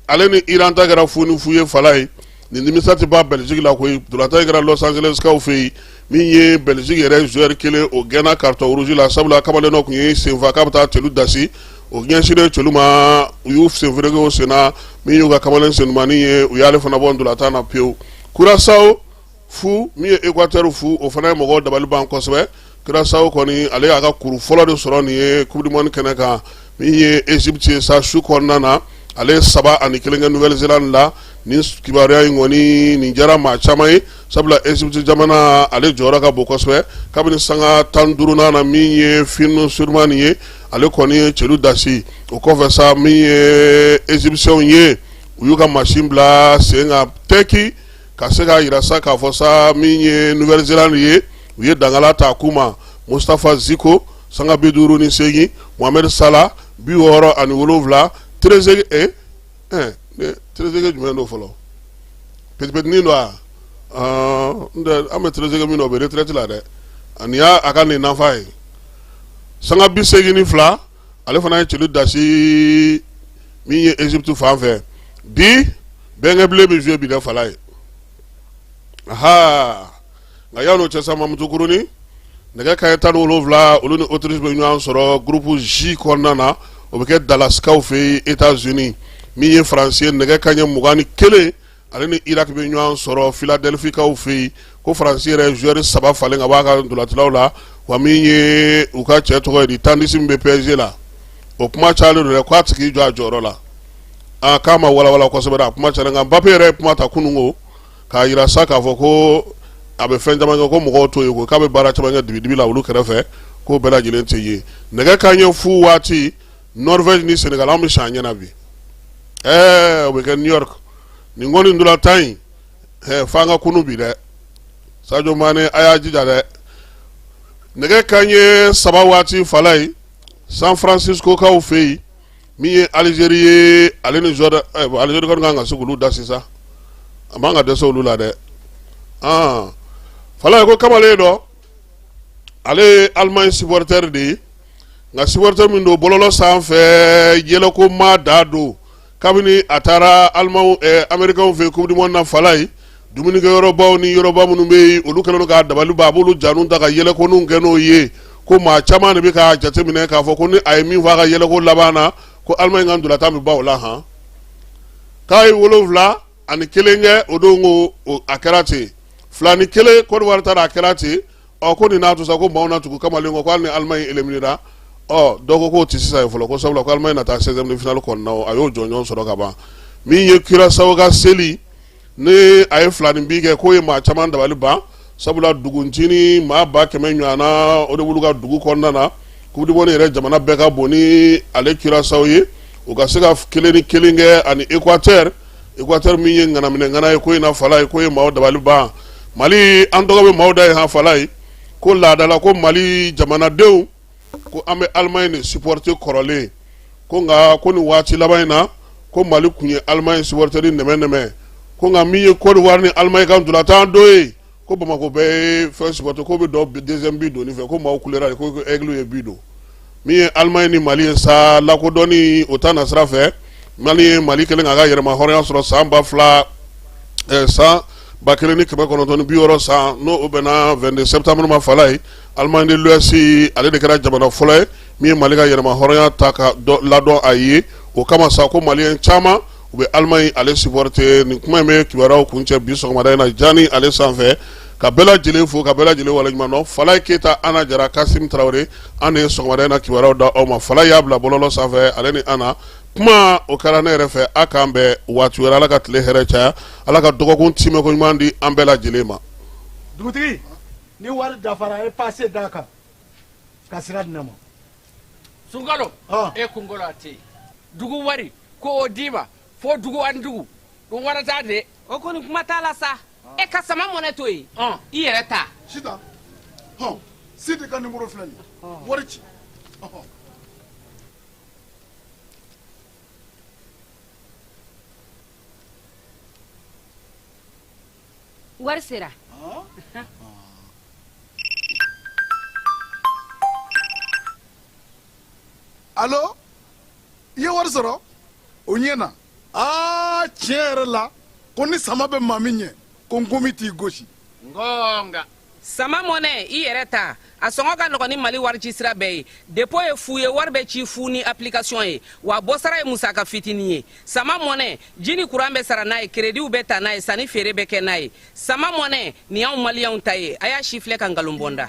ale ni Iran ta kɛra fu ni fu ye Falaye nin nimisa tɛ bɔ Belgique la koyi ntolatan in kɛra Los Angeles kaw fɛ yen min ye Belgique yɛrɛ joueur kelen o gɛnna carton rouge la sabula kamalen dɔ tun y'i senfa k'a bɛ taa celu dasi o ɲɛsinnen celu ma u y'u senfereke o sen na min y'u ka kamalen senumani ye u y'ale fana bɔ ntolatan na pewu Curaçao fu min ye Equateur fu o fana ye mɔgɔw dabali ban kosɛbɛ curaçao kɔni ale y'a ka kuru fɔlɔ de sɔrɔ nin ye coupe du monde kɛnɛ kan min ye égypte ye sa su kɔnɔna na ale ye saba ani kelen kɛ nouvelle-zélande la nin kibaruya in kɔni nin diyara maa caman ye sabula égypte jamana ale jɔyɔrɔ ka bon kosɛbɛ kabini sanga tan duuru na min ye finn surman ye ale kɔni ye celu dasi o kɔfɛ sa min ye égyptienw ye u y'u ka masin bila sen kan tɛki ka se k'a jira sa k'a fɔ sa min ye nouvelle-zélande ye u ye dagala ta k'u ma mustafa ziko sanga bi duuru ni segin mohamed salah bi wɔɔrɔ ani wolowula treze treze jumɛn don fɔlɔ petit don wa n an bɛ treze min dɔn o bɛ retraite la dɛ ani y'a a ka nin nafa ye sanga bi segin ni fila ale fana ye celu dasi min ye égypte fan fɛ bi bɛnkɛ bilen bɛ jouer bi dɛ falaye nka yan n'o cɛ sa Mamutukurunin nɛgɛ kanɲɛ tan ni wolonwula olu ni Autriche bɛ ɲɔgɔn sɔrɔ groupe J kɔnɔna na o bɛ kɛ Dalasikaw fɛ yen Etats Unis min ye France ye nɛgɛ kanɲɛ mugan ni kelen ale ni Irak bɛ ɲɔgɔn sɔrɔ Philadelphie kaw fɛ yen ko France yɛrɛ joueur saba falen ka bɔ a ka ntolatannaw la wa min ye u ka cɛ tɔgɔ ye di Tandis min bɛ PSG la o kuma cayalen don dɛ k'a tɛ k'i jɔ a jɔyɔrɔ la aa k'a ma walawala kosɛbɛ dɛ a kuma cayalen nka Mbappe yɛrɛ ye kuma ta kunun ko k'a jira sa k'a fɔ ko a bɛ fɛn caman kɛ ko mɔgɔw t'o ye ko k'a bɛ baara caman kɛ dibidibi la olu kɛrɛfɛ k'o bɛɛ lajɛlen tɛ ye nɛgɛ kanɲɛ fu waati norvège ni senegal an bɛ sa an ɲɛna bi ɛɛ o bɛ kɛ new york nin kɔni ntolatan in ɛɛ f'an ka kunu bi dɛ sadio mane a y'a jija dɛ nɛgɛ kanɲɛ saba waati falaye san francisco kaw fɛ yen min ye alizeri ye ale ni zɔrdan eh, alizeri kɔni kan ka se k'olu da sisan a man ka dɛsɛ olu la dɛ ah falaye ko kamalen dɔ ale ye alimaɲi supporter de ye nka supporter min don bɔlɔlɔ sanfɛ yɛlɛko maa dɔ don kabini a taara alimaw eh, amerikɛnw fɛ coupe du monde na falaye Dumunikɛyɔrɔbaw ni yɔrɔba minnu bɛ yen, olu kɛlen don k'a dabali ban, a b'olu janinw ta ka yɛlɛkoninw kɛ n'o ye, ko maa caman de bɛ k'a jateminɛ k'a fɔ ko ni a ye min fɔ a ka yɛlɛko laban na, ko Allemagne ka ntolatan bɛ ban o la han. K'a ye wolonwula ani kelen kɛ o don ko o a kɛra ten, fila ni kelen Côte d'Ivoire ta la a kɛra ten, ɔ ko nin n'a to sa ko maaw na tugu kamalen kɔ ko hali ni Allemagne éliminer ra, ɔ dɔ ko k'o tɛ sisan ye fɔlɔ ko sabula ko Allemagne na taa 16e de finale kɔnɔna o, a y'o jɔnjɔn sɔrɔ ka ban min ye Curaçao ka seli nin a ye filaninbin kɛ k'o ye maa caman dabali ban sabula duguncinin maa ba kɛmɛ ɲɔgɔnna o de b'olu ka dugu kɔnɔna na coupe du monde yɛrɛ jamana bɛɛ ka bon ni ale curaçao ye u ka se ka kelen ni kelen kɛ ani ekwatɛri ekwatɛri min ye ŋanaminɛŋana ye ko in na falaye k'o ye maaw dabali ban mali an tɔgɔ bɛ maaw da yen han falaye ko laada la ko mali jamanadenw ko an bɛ alimaɲi de supporter kɔrɔlen ko nka ko nin waati laban in na ko mali tun ye alimaɲi supporter ni nɛmɛnɛmɛ ko nka min ye kɔdiwari ni alimaɲi ka ntolatan don ye ko bamakɔ bɛɛ ye fɛn supporter ko bɛ deuxième bi don fɛ ko maaw kulera ko aigle ye bi don min ye alimaɲi ni mali ye sa lakodɔnni o ta nasira fɛ mali ye mali kɛlen k'a ka yɛrɛmahɔrɔnya sɔrɔ san ba fila san ba kelen ni kɛmɛ kɔnɔntɔn ni bi wɔɔrɔ san n'o bɛnna 22 sɛtanburu ma falaye Allemagne de l'Ouest ale de kɛra jamana fɔlɔ ye min ye mali ka yɛrɛmahɔrɔnya ta ka ladɔn a ye o kama sa ko maliyɛn caman u bɛ Allemagne ale supporter nin kuma in bɛ kibaruyaw kuncɛ bi sɔgɔmada in na jan ni ale sanfɛ ka bɛɛ lajɛlen fo ka bɛɛ lajɛlen waleɲumandɔn falaye keyita ana jara kasimu tarawele an de ye sɔgɔmada in na kibaruyaw da aw ma falaye y'a bila bɔlɔlɔ sanfɛ ale ni ana kuma o kɛra ne yɛrɛ fɛ aw k'an bɛn waati wɛrɛ ala ka tile hɛrɛ caya ala ka dɔgɔkun timɛ koɲuman di an bɛɛ lajɛlen ma dugutigi ni wari dafara a ye pase d'a kan ka sira di ne ma sunkalo ah. e kunkolo a tɛ yen dugu wari ko o d'i ma fo dugu ani dugu o wari t'a de o kɔni kuma t'a la sa e ka sama mɔnɛ to yen ah. i yɛrɛ ta sita hɔn sidi ka nimɔrɔ filɛ nin ah. wari ci wari sera alo i ye wari sɔrɔ o ɲɛna aa tiɲɛ yɛrɛ la ko ni sama bɛ maa min ɲɛ ko nkomi t'i gosi nka sama mɔnɛ i yɛrɛ ta a sɔngɔ ka nɔgɔn ni mali warici sira bɛɛ ye depo ye fu ye wari bɛ ci fu ni apilikasiyɔn ye wa bɔsara ye musaka fitinin ye sama mɔnɛ ji ni kuran bɛ sara n'a ye kerediw bɛ ta n'a ye sanni feere bɛ kɛ n'a ye sama mɔnɛ nin y'anw maliyɛnw ta ye a y'a sifilɛ ka nkalon bɔ n da